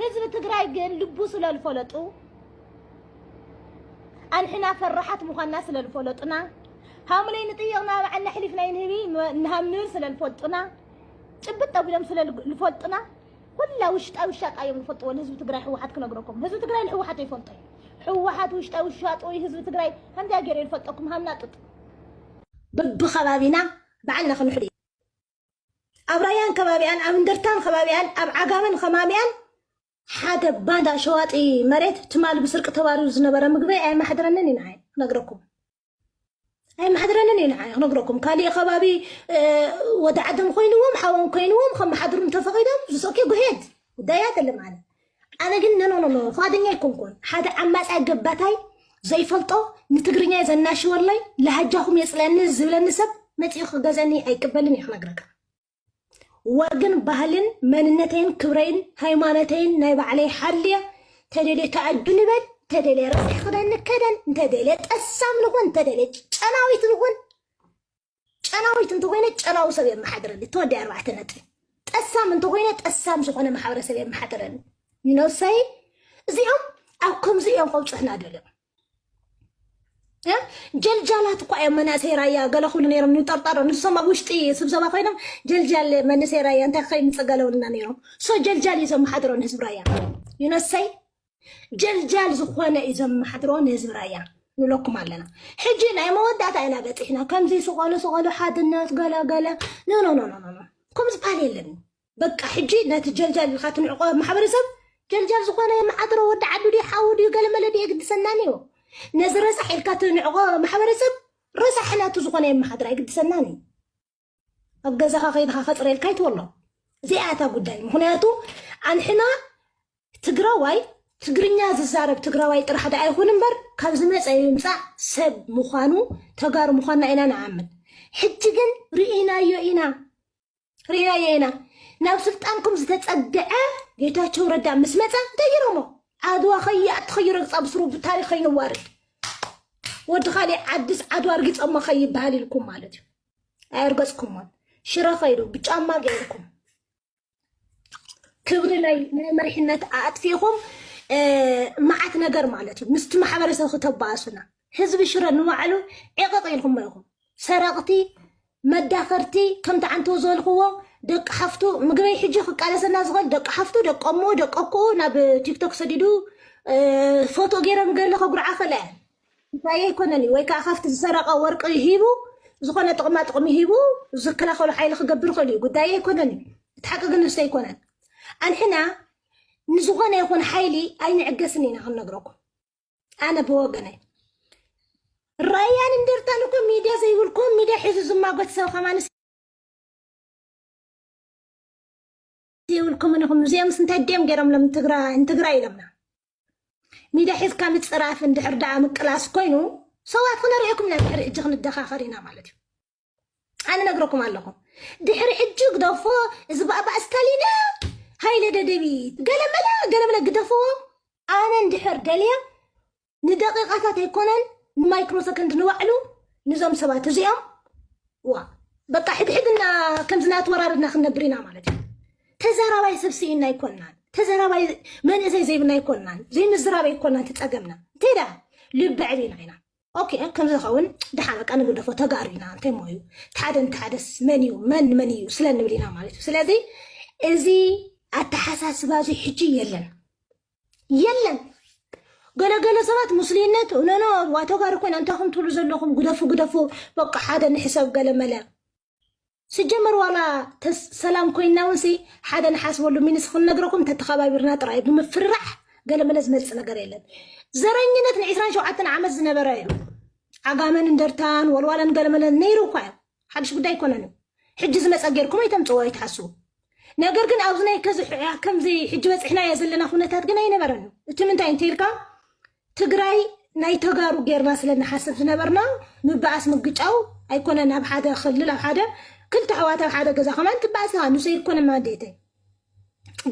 ህዝቢ ትግራይ ግን ልቡ ስለልፈለጡ ኣንሕና ፈራሓት ምዃንና ስለልፈለጡና ሃምለይ ንጥይቕ ናባዕና ኣሕሊፍናይ ንህቢ ንሃም ንብል ስለልፈልጡና ጭብጥ ኣቢሎም ስለልፈልጡና ኩላ ውሽጣዊ ሻጣ እዮም ዝፈልጥዎ ንህዝቢ ትግራይ ህወሓት ክነግረኩም ህዝቢ ትግራይ ንህወሓት ይፈልጦ ህወሓት ውሽጣዊ ሻጦ ህዝቢ ትግራይ ከምዚያ ገይረ ይፈልጠኩም ሃምና ጡጥ በብከባቢና ባዕልና ክንሕሉ እዩ ኣብ ራያን ከባቢኣን ኣብ እንደርታን ከባቢኣን ኣብ ዓጋመን ከማሚኣን ሓደ ባንዳ ሸዋጢ መሬት ትማል ብስርቂ ተባሪሩ ዝነበረ ምግቢ ኣይማሕድረንን እዩ ንዓይ ክነግረኩም ኣይማሕድረንን እዩ ንዓይ ክነግረኩም ካሊእ ከባቢ ወደ ዓደም ኮይንዎም ሓዎም ኮይንዎም ከመሓድሩ እንተፈቂዶም ዝሰኪ ጉሄድ ጉዳይ ኣይደለም ኣነ ኣነ ግን ኖኖኖኖ ፍቓደኛ ኣይኮንኩን ሓደ ዓማጻይ ገባታይ ዘይፈልጦ ንትግርኛይ ዘናሽወለይ ላህጃኹም የጽልኣኒ ዝብለኒ ሰብ መጺኡ ክገዝኣኒ ኣይቅበልን እየ ክነግረካ ወግን ባህልን መንነተይን ክብረይን ሃይማኖተይን ናይ ባዕለይ ሓልየ ተደልየ ተኣዱ ንበል ተደልየ ረሲሕ ክዳን ንከደን እንተደልየ ጠሳም ንኹን እንተደልየ ጨናዊት ንኹን ጨናዊት እንተኾይነ ጨናዊ ሰብ የመሓድረኒ ተወዲ ኣርባዕተ ነጥቢ ጠሳም እንተኾይነ ጠሳም ዝኾነ ማሕበረሰብ የመሓድረኒ ነብሰይ እዚኦም ኣብ ከምዚ እዮም ከብፅሑና ደልዮም እ? ጀልጃላት እኳ እዮም መናእሰይ ራያ ገለ ክብሉ ነይሮም ንጠርጣሮ ንሶም ኣብ ውሽጢ ስብሰባ ኮይኖም ጀልጃል መንእሰይ ራያ እንታይ ከይምፀእ ገለውልና ነይሮም ሶ ጀልጃል እዩ ዘመሓድሮ ንህዝቢ ራያ ይነሰይ ጀልጃል ዝኾነ እዩ ዘመሓድሮ ንህዝቢ ራያ ንብለኩም ኣለና ሕጂ ናይ መወዳእታ ኢና በፂሕና ከምዚ ስቆሉ ስቆሉ ሓድነት ገለ ገለ ኖኖኖኖኖ ከም ዝበሃል የለን በቃ ሕጂ ነቲ ጀልጃል ኢልካ ትንዕቆ ማሕበረሰብ ጀልጃል ዝኾነ የመሓድሮ ወዲ ዓዱ ድዩ ሓዊ ድዩ ገለመለ ድዩ የግድሰናን እዩ ነዚ ረሳሕ ኢልካ ትንዕቆ ማሕበረሰብ ረሳሕ ናቱ ዝኾነ የመሓድሮ ኣይግድሰናን እዩ ኣብ ገዛኻ ከይድኻ ከፅርየልካ ይትበሎ እዚኣ እታ ጉዳይ ምክንያቱ ኣንሕና ትግራዋይ ትግርኛ ዝዛረብ ትግራዋይ ጥራሕ ዳ ኣይኹን እምበር ካብ ዝመፀ ይምፃእ ሰብ ምዃኑ ተጋሩ ምዃንና ኢና ንኣምን ሕጂ ግን ርኢናዮ ኢና ርኢናዮ ኢና ናብ ስልጣንኩም ዝተፀግዐ ጌታቸው ረዳ ምስ መፀ እንታይ ገይሮሞ ዓድዋ ከይኣቲ ከይረግፃ ብስሩ ታሪክ ከይንዋርድ ወዲ ካሊእ ዓድስ ዓድዋ ኣርጊፀሞ ከይበሃል ኢልኩም ማለት እዩ ኣየርገጽኩሞን ሽረ ከይዱ ብጫማ ገይርኩም ክብሪ ናይ ናይ መሪሕነት ኣጥፊኹም መዓት ነገር ማለት እዩ ምስቲ ማሕበረሰብ ክተባእሱና ህዝቢ ሽረ ንባዕሉ ዕቕቕ ኢልኩሞ ኢኹም ሰረቕቲ መዳኸርቲ ከምቲ ዓንተው ዝበልክዎ ደቂ ሓፍቱ ምግበይ ሕጂ ክቃለሰና ዝኽእል ደቂ ሓፍቱ ደቀሞ ደቀኩኡ ናብ ቲክቶክ ሰዲዱ ፎቶ ገይረን ገለ ከጉርዓ ከለአን እንታይ ኣይኮነን እዩ ወይ ከዓ ካብቲ ዝሰረቐ ወርቂ ሂቡ ዝኾነ ጥቕማ ጥቕሚ ሂቡ ዝከላኸሉ ሓይሊ ክገብር ይኽእል እዩ ጉዳይ ኣይኮነን እዩ እቲ ሓቂ ግን ንስተ ኣይኮነን ኣንሕና ንዝኾነ ይኹን ሓይሊ ኣይንዕገስን ኢና ክንነግረኩም ኣነ ብወገነይ ራያን እንደርታን እኮ ሚድያ ዘይብልኩም ሚድያ ሒዙ ዝማጎት ሰብ ከማንስ ዘይብልኩምን ኢኹም እዚኦምስ እንታይ ድዮም ገይሮምሎም ንትግራይ ንትግራይ ኢሎምና ሚድያ ሒዝካ ምፅራፍ እንድሕር ደኣ ምቅላስ ኮይኑ ሰዋት ክነሪኦኩም ኢና ድሕሪ ሕጂ ክንደኻኸር ኢና ማለት እዩ ኣነ ነግረኩም ኣለኹ ድሕሪ ሕጂ ግደፎ እዚ ባእባእ ስታሊነ ሃይለ ደደቢት ገለመለ ገለመለ ግደፍዎ ኣነ እንድሕር ደልየ ንደቂቃታት ኣይኮነን ንማይክሮ ሰከንድ ንባዕሉ ንዞም ሰባት እዚኦም ዋ በቃ ሕድሕድና ከምዚ ናተወራርድና ክንነብር ኢና ማለት እዩ ተዘራባይ ሰብ ስኢና ኣይኮናን ተዘራባይ መንእሰይ ዘይብና ኣይኮናን ዘይምዝራብ ኣይኮናን ትፀገምና እንታይ ደኣ ልቢ ዕሊና ኢና ኦኬ ከም ዝኸውን ድሓን በቃ ንግደፎ ተጋሩ ኢና እንታይ ሞ እዩ ሓደ እንተሓደስ መን እዩ መን መን እዩ ስለ ንብል ኢና ማለት እዩ ስለዚ እዚ ኣተሓሳስባ እዚ ሕጂ የለን የለን ገለገለ ሰባት ሙስሊነት ኖኖ ዋተጋሪ ኮይና እንታይ ከም ትብሉ ዘለኹም ግደፉ ግደፉ በቃ ሓደ ንሕሰብ ገለመለ ስጀመር ዋላ ተስ- ሰላም ኮይና እውን ሲ ሓደ ንሓስበሉ ሚንስ ክንነግረኩም ተተኸባቢርና ጥራይ እዩ ብምፍርራሕ ገለመለ ዝመፅእ ነገር የለን ዘረኝነት ን27 ዓመት ዝነበረ እዩ ዓጋመን እንደርታን ወልዋለን ገለመለን ነይሩ እኳ እዩ ሓድሽ ጉዳይ ኣይኮነን እዩ ሕጂ ዝመፀ ጌርኩም ኣይተምፅዎ ኣይትሓስቡ ነገር ግን ኣብዚ ናይ ከዚ ከምዚ ሕጂ በፂሕናዮ ዘለና ኩነታት ግን ኣይነበረን እዩ እቲ ምንታይ እንተይልካ ትግራይ ናይ ተጋሩ ጌርና ስለ ንሓስብ ዝነበርና ምበኣስ ምግጫው ኣይኮነን ኣብ ሓደ ክልል ኣብ ሓደ ክልተ ኣሕዋት ኣብ ሓደ ገዛ ከማን ትበኣስ ኢኻ ንሰይ ኮነ ማንዴተ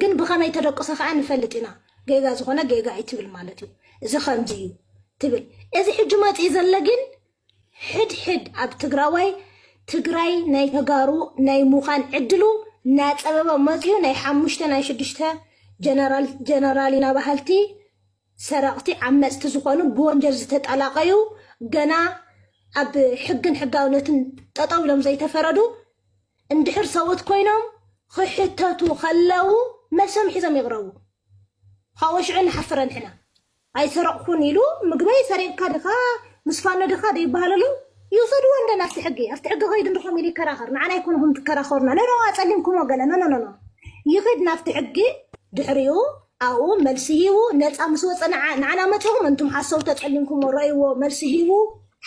ግን ብኸመይ ተደቅሰ ከዓ ንፈልጥ ኢና ጌጋ ዝኾነ ጌጋ እዩ ትብል ማለት እዩ እዚ ከምዚ እዩ ትብል እዚ ሕጂ መፅኢ ዘሎ ግን ሕድ ሕድ ኣብ ትግራዋይ ትግራይ ናይ ተጋሩ ናይ ሙኻን ዕድሉ ናጸበበ መጺኡ ናይ ሓሙሽተ ናይ ሽዱሽተ ጀነራል ጀነራል ኢና በሃልቲ ሰረቕቲ ዓመጽቲ ዝኾኑ ብወንጀል ዝተጠላቐዩ ገና ኣብ ሕግን ሕጋውነትን ጠጠው ኢሎም ዘይተፈረዱ እንድሕር ሰውት ኮይኖም ክሕተቱ ከለው መልሶም ሒዞም ይቕረቡ። ካብኡ ሽዑ ንሓፍረ ንሕና። ኣይሰረቕኩን ኢሉ ምግበይ ሰሪቕካ ድኻ ምስ ፋኖ ድኻ ደይበሃል ኣሎ ይውሰድዎ እንደ ናብቲ ሕጊ ኣብቲ ሕጊ ከይዱ እንደ ከምኡ ኢሉ ይከራኸር ንዓና ኣይኮንኹም ትከራኸሩና ኖኖ ኣጸሊምኩሞ ገለ ኖኖኖኖ ይኺድ ናብቲ ሕጊ ድሕሪኡ ኣብኡ መልሲ ሂቡ ነፃ ምስ ወፀ ንዓና መፂኹም እንቱም ሓሰውቲ ኣጸሊምኩሞ ረእይዎ መልሲ ሂቡ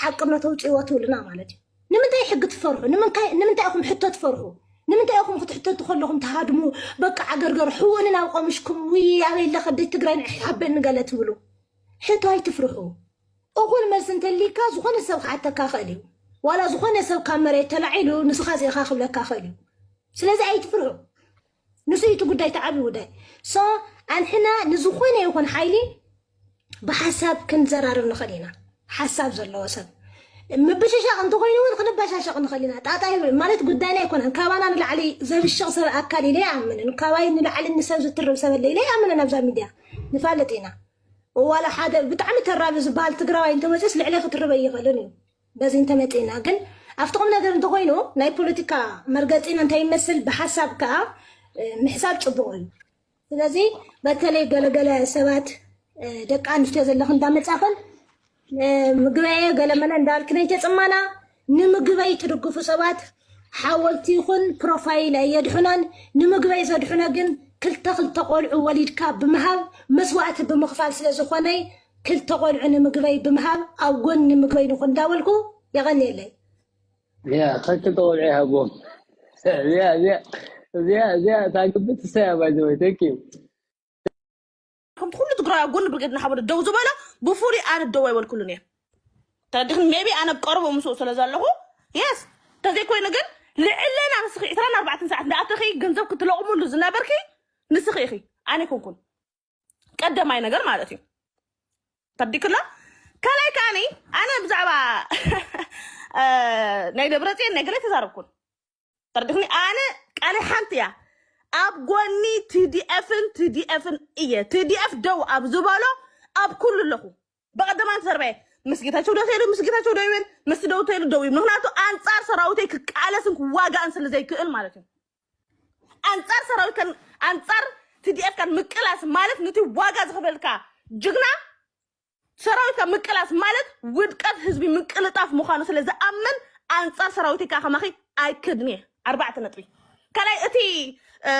ሓቅነቱ ኣውፅእዎ ትብሉና ማለት እዩ ንምንታይ ሕጊ ትፈርሑ ንምንካይ ንምንታይ ኢኹም ሕቶ ትፈርሑ ንምንታይ ኢኹም ክትሕተቱ ከለኹም ትሃድሙ በቃ ዓገርገር ሕውንን ኣብ ቆምሽኩም ውይ ኣበይ ኣለ ከደይ ትግራይ ንዕሕ ሓበኒ ገለ ትብሉ ሕቶ ኣይትፍርሑ እኹል መልሲ እንተሊካ ዝኾነ ሰብ ክሓተካ ክእል እዩ ዋላ ዝኾነ ሰብ ካብ መሬት ተላዒሉ ንስኻ ዚኢኻ ክብለካ ክእል እዩ ስለዚ ኣይትፍርሑ ንሱ እዩ እቲ ጉዳይ እቲ ዓብዪ ጉዳይ ሶ ኣንሕና ንዝኾነ ይኹን ሓይሊ ብሓሳብ ክንዘራርብ ንኽእል ኢና ሓሳብ ዘለዎ ሰብ ምብሽሻቕ እንተኾይኑ እውን ክንበሻሸቕ ንኽእል ኢና ጣጣ ይብል ማለት ጉዳይና ኣይኮነን ካባና ንላዕሊ ዘብሽቕ ሰብ ኣካል ኢለ ይኣምንን ካባይ ንላዕሊ ንሰብ ዝትርብ ሰብ ኣለ ኢለ ይኣምንን ኣብዛ ሚድያ ንፋለጥ ኢና ዋላ ሓደ ብጣዕሚ ተራቢ ዝበሃል ትግራዋይ እንተመፅስ ልዕለ ክትርበ ይኽእልን እዩ በዚ እንተመጺእና ግን ኣብቲ ቁም ነገር እንተኾይኑ ናይ ፖለቲካ መርገጺና እንተይመስል ብሓሳብ ከኣ ምሕሳብ ጽቡቕ እዩ። ስለዚ በተለይ ገለገለ ሰባት ደቂ ኣንስትዮ ዘለኽን እንዳመጻኽን ምግበየ ገለመለ እንዳልክን ኣይተጽማና ንምግበይ ትድግፉ ሰባት ሓወልቲ ይኹን ፕሮፋይል ኣየድሑናን ንምግበይ ዘድሑነ ግን ክልተ ክልተ ቆልዑ ወሊድካ ብምሃብ መስዋእቲ ብምኽፋል ስለ ዝኾነ ክልተ ቆልዑ ንምግበይ ብምሃብ ኣብ ጎኒ ምግበይ ንኹን እንዳበልኩ የቐንየለይ። እዚኣ ክልተ ቆልዑ ይሃቦም እዚኣ እዚኣ እዚኣ እዚኣ እታ ግቢ ትሰያ ባይ ዘ ወይ ቴንክ ዩ ከምቲ ኩሉ ትግራዊ ኣብ ጎኒ ብርጌድ ንሓመዱ ደው ዝበሎ ብፍሉይ ኣነ ደው ኣይበልኩሉን እየ ተረዲኽኒ ሜቢ ኣነ ኣብ ቀረቦ ምስኡ ስለ ዘለኹ የስ ተዘይኮይኑ ግን ልዕለና ንስኺ 24 ሰዓት እንዳኣተኺ ገንዘብ ክትለቕምሉ ዝነበርኪ ንስኺ ኢኺ ኣነ ኣይኮንኩን ቀደማይ ነገር ማለት እዩ ተብዲክሎ ከላይ ከዓኒ ኣነ ብዛዕባ ናይ ደብረፅዮን ናይ ገለ ተዛረብኩን ተርድክኒ ኣነ ቃለ ሓንቲ እያ ኣብ ጎኒ ትዲኤፍን ትዲኤፍን እየ ትዲኤፍ ደው ኣብ ዝበሎ ኣብ ኩሉ ኣለኹ በቀደም ኣንቲ ተርበየ ምስ ጌታቸው ደው ተይሉ ምስ ጌታቸው ደው ይብል ምስ ደው ተይሉ ደው ይብል ምክንያቱ ኣንፃር ሰራዊተይ ክቃለስን ክዋጋእን ስለ ዘይክእል ማለት እዩ ኣንፃር ሰራዊት ከን ኣንፃር ትዲኤፍ ከን ምቅላስ ማለት ነቲ ዋጋ ዝኸፈልካ ጅግና ሰራዊትካ ምቅላስ ማለት ውድቀት ህዝቢ ምቅልጣፍ ምዃኑ ስለ ዝኣምን ኣንፃር ሰራዊተይ ከዓ ከማኺ ኣይክድን እየ ኣርባዕተ ነጥቢ ካልኣይ እቲ እ፣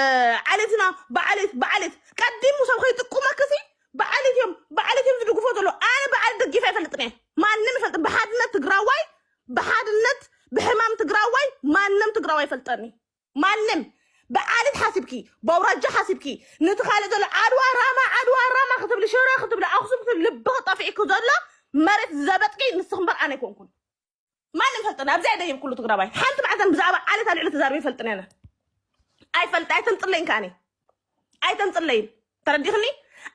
ዓሌትና ብዓሌት ብዓሌት ቀዲሙ ሰብ ከይጥቁመክሲ ብዓልት እዮም ብዓልት እዮም ዝድግፎ ዘሎ ኣነ ብዓል ደጊፈ ኣይፈልጥን እየ ማንም ይፈልጥ ብሓድነት ትግራዋይ ብሓድነት ብሕማም ትግራዋይ ማንም ትግራዋይ ይፈልጠኒ ማንም ብዓልት ሓሲብኪ በውራጃ ሓሲብኪ ነቲ ካልእ ዘሎ ዓድዋ ራማ ዓድዋ ራማ ክትብሊ ሽረ ክትብሊ ኣክሱም ክትብሊ ልቢ ክጠፍዒ ዘሎ መሬት ዘበጥቂ ንስኽ እምበር ኣነ ኣይኮንኩን ማንም ፈልጥና ኣብዚኣ ደይብ ኩሉ ትግራባይ ሓንቲ መዓልታን ብዛዕባ ዓሌት ኣልዕሊ ተዛርበ ይፈልጥን ያነ ኣይፈልጥ ኣይተምፅለይን ከዓኒ ኣይተምፅለይን ተረዲኽኒ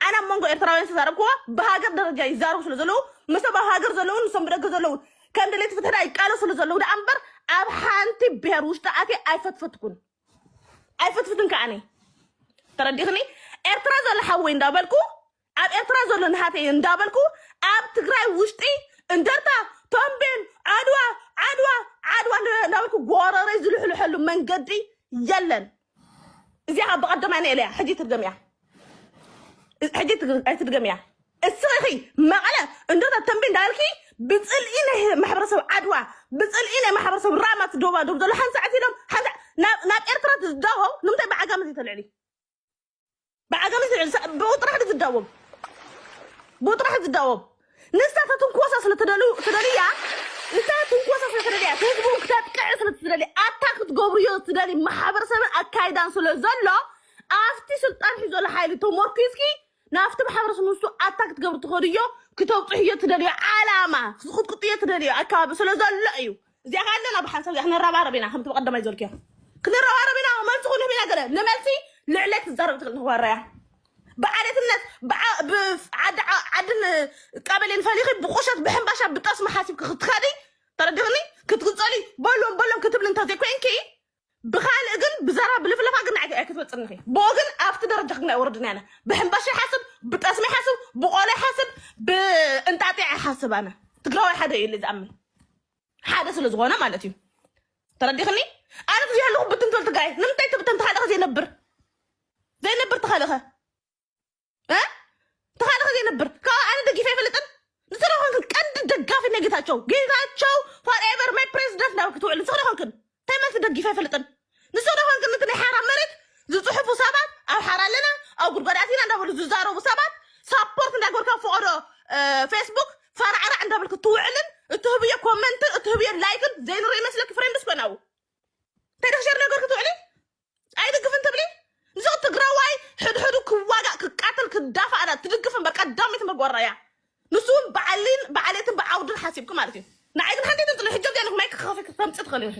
ኣነ ኣብ መንጎ ኤርትራውያን ዝተዛረብክዎ ብሃገር ደረጃ ይዛረቡ ስለ ዘለዉ ምስቶም ኣብ ሃገር ዘለውን ንሶም ብደገ ዘለውን ከም ደለይቲ ፍትሒ ዳ ይቃለሱ ስለ ዘለዉ ደኣ እምበር ኣብ ሓንቲ ብሄር ውሽጢ ኣትየ ኣይፈትፈትኩን ኣይፈትፍትን ከዓኒ ተረዲኽኒ ኤርትራ ዘሎ ሓወይ እንዳበልኩ ኣብ ኤርትራ ዘሎ ናሃተይ እዩ እንዳበልኩ ኣብ ትግራይ ውሽጢ እንደርታ ተምቤን ዓድዋ ዓድዋ ዓድዋ እንዳበልኩ ጎረረይ ዝልሕልሐሉ መንገዲ የለን እዚኣ ካብ ብቐደማ እኔ ኢለያ ሕጂ ትድገምያ ሕጂ ትግ- ኣይትድገምያ እስኺ መቐለ እንደርታ ተምቤን እንዳበልኪ ብፅልኢ ናይ ማሕበረሰብ ዓድዋ ብፅልኢ ናይ ማሕበረሰብ ራማ ትደባደቡ ዘሎ ሓንሳዕ ኢሎም ሓንሳዕ ናብ ናብ ኤርትራ ትዝዳሆ ንምንታይ ብዓጋመ ዘይተልዕሊ ብዓጋመ ዝልዕል ሰ- ብኡ ጥራሕ ድዩ ዝዳወብ ብኡ ጥራሕ እዩ ዝዳወብ ንሳተ ትንኮሳ ስለተደልዩ ስለድያ ንሳተ ትንኮሳ ስለተደልያ ህዝቡ ክተጥቅዕ ስለትደሊ ኣታ ክትገብርዮ ትደሊ ማሕበረሰብን ኣካይዳን ስለ ዘሎ ኣብቲ ስልጣን ሒዞ ዘሎ ሓይሊ ተሞርኪዝኪ ናብቲ ማሕበረሰብ ንሱ ኣታ ክትገብሪ ትኸድዮ ክተብፅሕዮ ትደልዮ ዓላማ ክትቅጥቅጥዮ ትደልዮ ኣካባቢ ስለ ዘሎ እዩ እዚኣ ከ ኣለና ብሓንሳብ እዚኣ ክንረባረብ ኢና ከምቲ በቀደማይ ዘልክዮ ክንረባረብ ኢና መልሲ ክንህብ ኢና ገለ ንመልሲ ልዕለ ትዛረብ ትክእል ንክበረያ ብዓሌትነት ብዓ- ብፍ- ዓዲ ዓ- ዓድን ቀበሌን ፈሊኺ ብቁሸት ብሕንባሻ ብጠስሚ ሓሲብኪ ክትኸዲ ተረዲኽኒ ክትግፀሊ በሎም በሎም ክትብሊ እንተዘይኮይንኪ ብካልእ ግን ብዛራ ብልፍለፋ ግን ንዓይ ኣይክትበፅን ኢኺ ብኡ ግን ኣብቲ ደረጃ ግን ኣይወረድን ኣነ ብሕምባሻ ይሓስብ ብጠስሚ ይሓስብ ብቆሎ ይሓስብ ብእንጣጢዕ ይሓስብ ኣነ ትግራዋይ ሓደ እዩ ኢለ ዝኣምን ሓደ ስለ ዝኾነ ማለት እዩ ተረዲኽኒ ኣነ ብዚ ኣለኹ ብትን ትብል ትግራይ ንምንታይ ትብተን ተኻለኸ ዘይነብር ዘይነብር ተኻለኸ እ? ተኻለ ከዚ ነብር ካብ ኣነ ደጊፈ ይፈልጥን ንስለ ኮንክን ቀንዲ ደጋፊ ናይ ጌታቸው ጌታቸው ፎርኤቨር ማይ ፕሬዚደንት ናብ ክትውዕል ንስለ ኮንክን እንታይ ማለት ደጊፈ ይፈልጥን ንስለ ኮንክን እቲ ናይ ሓራ መሬት ዝፅሑፉ ሰባት ኣብ ሓራ ኣለና ኣብ ጉድጓድ ኣቲና እንዳበሉ ዝዛረቡ ሰባት ሳፖርት እንዳገበርካ ፈቐዶ ፌስቡክ ፈራዕራዕ እንዳበልክ ትውዕልን እትህብዮ ኮመንትን እትህብዮ ላይክን ዘይንርኢ መስለኪ ፍሬንድስ ኮናው እንታይ ደክሸር ነገር ክትውዕሊ ኣይድግፍን ትብሊ ንዚ ትግራዋይ ሕድሕዱ ክዋጋእ ክቃተል ክዳፋእ ዳ ትድግፍ እምበር ቀዳሚት መግበራ እያ ንሱ እውን በዓሊን በዓሌትን ብዓውድን ሓሲብኪ ማለት እዩ ንዓይ ግን ሓንቲ ትንጥሎ ሕጆ ገለ ማይ ክኸፊ ክተምፂ ትኽእሊ ኢኺ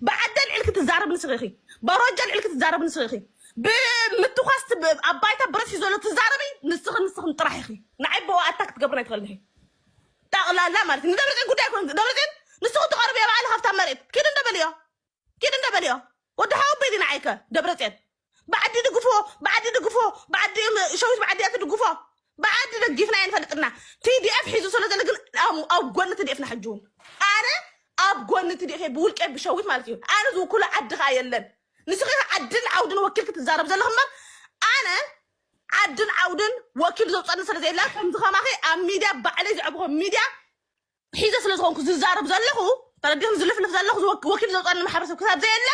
ብዓደ ልዕል ክትዛረብ ንስኺ ኢኺ በሮጃ ልዕል ክትዛረብ ንስኺ ኢኺ ብምትኳስ ብ- ኣብ ባይታ ብረት ሒዞ ዘሎ ትዛረቢ ንስኺ ንስኽን ጥራሕ ኢኺ ንዓይ ብኡ ኣታ ክትገብርን ኣይትኽእልን ኢኺ ጠቕላላ ማለት እዩ ንደብረፅዮን ጉዳይ ኮን ደብረፅዮን ንስኹ ትቐርብዮ በዓል ሃብታ መሬት ኪድ እንደበልዮ ኪድ እንዳ በልዮ ወዲ ሓወቦ እዩ ንዓይ ከ ደብረፅዮን ብዓዲ ድግፎ ብዓዲ ድግፎ ብዓዲ እዮም ሸዊት ብዓዲ እያ ትድግፎ ብዓዲ ደጊፍና እየ ንፈልጥ እና ቲዲኤፍ ሒዙ ስለ ዘሎ ግን ኣብ- ኣብ ጎኒ ቲዲኤፍ ና ሕጂ እውን ኣነ ኣብ ጎኒ ቲዲኤፍ እየ ብውልቀ ብሸዊት ማለት እዩ ኣነ ዝውክሎ ዓዲ ከዓ የለን ንስኺ ከዓ ዓድን ዓውድን ወኪል ክትዛረብ ዘለኹ እምበር ኣነ ዓድን ዓውድን ወኪል ዘውፀኒ ስለ ዘየለ ከምዚ ከማኺ ኣብ ሚድያ ባዕለይ ዘዕብኾ ሚድያ ሒዘ ስለ ዝኾንኩ ዝዛረብ ዘለኹ ተረዲኹም ዝልፍልፍ ዘለኹ ዝወክ- ወኪል ዘውፃኒ ማሕበረሰብ ክሳብ ዘየለ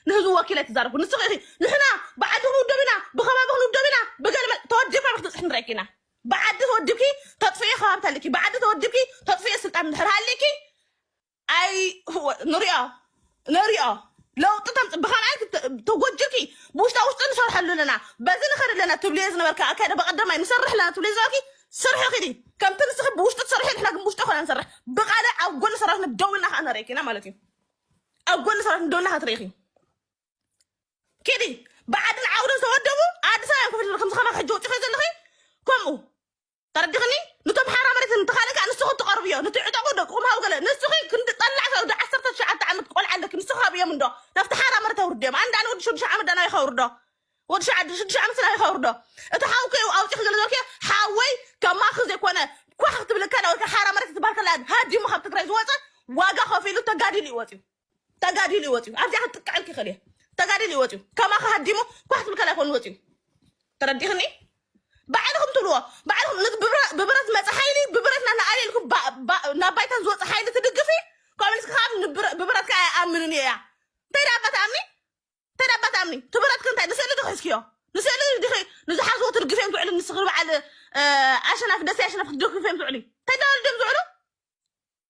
ንህዝቢ ወኪለ ትዛረብኩ ንስኺ ኢኺ ንሕና ብዓዲ ክንውደብ ኢና ብከባቢ ክንውደብ ኢና ብገለ መ- ተወዲብካ ዶ ክትብፅሒ ንረኪ ኢና ብዓዲ ተወዲብኪ ተጥፍኤ ከባቢ ተልኪ ብዓዲ ተወዲብኪ ተጥፍኤ ስልጣን ድሕር ሃሊኪ ኣይ ንሪኦ ንሪኦ ለውጢ ተምፅ ብካልኣይ ክት- ተጎጅልኪ ብውሽጣ ውሽጢ ንሰርሐሉ ኣለና በዚ ንኸድ ኣለና ትብልዮ ዝነበርካ ኣካይዳ በቀደማይ ንሰርሕ ኣለና ትብልዮ ዝነበርኪ ስርሒ ኪዲ ከምቲ ንስኺ ብውሽጢ ትሰርሒ ንሕና ግን ብውሽጢ ኮና ንሰርሕ ብቃልዕ ኣብ ጎኒ ሰራዊትና ደው ኢልና ከዓ ንሪኢኪ ኢና ማለት እዩ ኣብ ጎኒ ሰራዊትና ደው ኢልና ከዓ ትሪኢኺ ኪዲ ብዓድን ዓውድን ዝተወደቡ ኣዲስ ኣበባ ኮፍ ኢልክን ከምዚ ከማኺ ሕጂ ወፂኺ ዘለኺ ከምኡ ተረድኽኒ ንቶም ሓራ መሬት እንተ ካልእ ከኣ ንስኹ ትቐርብዮ ንቲ ዕጠቑ ደቅኹም ሃቡ ገለ ንስኺ ክንዲ ጠላዕ ከብዲ ዓሰርተ ትሽዓተ ዓመት ቆልዓ ኣለኪ ንስኺ ሃብዮም እንዶ ናብቲ ሓራ መሬት ኣውርድዮም ኣንዳ ንወዲ ሽዱሽተ ዓመት ዳናይ ከውርዶ ወዲ ሸዓዱ ሽዱሽተ ዓመት ናይ ከውርዶ እቲ ሓውኪ እዩ ኣውፂኺ ገለ ዝበልኪዮ ሓወይ ከማኺ ዘይኮነ ኳሕ ክትብለካ ዳወልካ ሓራ መሬት ትበሃል ከላ ሃዲሙ ካብ ትግራይ ዝወፀ ዋጋ ከፊሉ ተጋዲሉ እዩ ወፂኡ ተጋዲሉ ይወፅዩ ኣብዚኣ ክትጥቀዐልክ ይኽእል እየ ተጋዲሉ ይወፅዩ ከማኻ ሃዲሙ ኳሕ ትብል ካልይ ኮይኑ ወፅዩ ተረዲኽኒ ባዕልኹም ትብልዎ ባዕልኹም ነት ብብረ- ብብረት መፀ ሓይሊ ብብረት ናትና ኣበይ ኢልኩም ባ- ባ- ናብ ባይታን ዝወፀ ሓይሊ ትድግፊ ኮሚኒስት ከዓ ንብረ- ብብረት ከዓ ኣይኣምንን እየ እያ እንታይ ደኣ እባ ትኣምኒ እንታይ ደኣ እባ ትኣምኒ ትብረትክ እንታይ ንስእሊ ዶ ሒዝክዮ ንስእሊ ዲኺ ንዝሓዝዎ ትድግፍዮም ትውዕሊ ንስኺ በዓል እ፣ ኣሸናፊ ደሴ ኣሸናፊ ክትደግፍዮም ትውዕሊ እንታይ ደኣ ድዮም ዝውዕሉ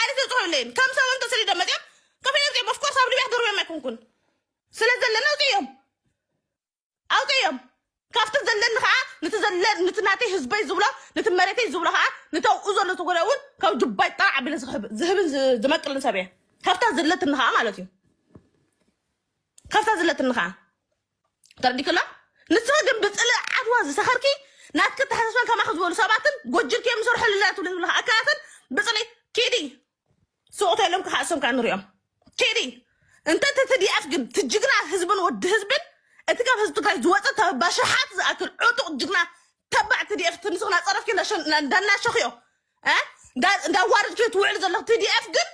ዓሊ ተፅሆይለይን ከም ሰብ እንተሰዲዶም መፅኦም ከፊሎም ፅኦም ኦፍኮርስ ኣብ ሊብያ ክገርብዮም ኣይኮንኩን ስለ ዘለና ውፅኦም ኣውፅኦም ካብቲ ዘለኒ ከዓ ንቲ ዘለ ንቲ ናተይ ህዝበይ ዝብሎ ነቲ መሬተይ ዝብሎ ከዓ ነቲ ኣብኡ ዘሎ ተጎዳ እውን ካብ ጅባይ ጣዕ ኣቢለ ዝህብን ዝመቅልን ሰብ እየ ካብታ ዘለትኒ ከዓ ማለት እዩ ካብታ ዘለትኒ ከዓ ተረዲክላ ንስኺ ግን ብፅልእ ዓድዋ ዝሰኸርኪ ናትኪ ተሓሳስበን ከማኺ ዝበሉ ሰባትን ጎጅልኪ እዮም ዝሰርሑ ኣለና ትብሊ ዝብለካ ኣካላትን ብፅሊ ኪዲ ስቑተ ኢሎም ክሓሶም ከዓ ንሪኦም ኪዲ እንተ እቲ ትዲኣፍ ግን እቲ ጅግና ህዝብን ወዲ ህዝብን እቲ ካብ ህዝቢ ትግራይ ዝወፀ ተበባ ሽሓት ዝኣክል ዕጡቕ ጅግና ተባዕ ትዲኤፍ እቲ ንስኽ ናፀረፍኪ እንዳናሸኽዮ እንዳዋረድኪ ትውዕሉ ዘለኹ ትዲኤፍ ግን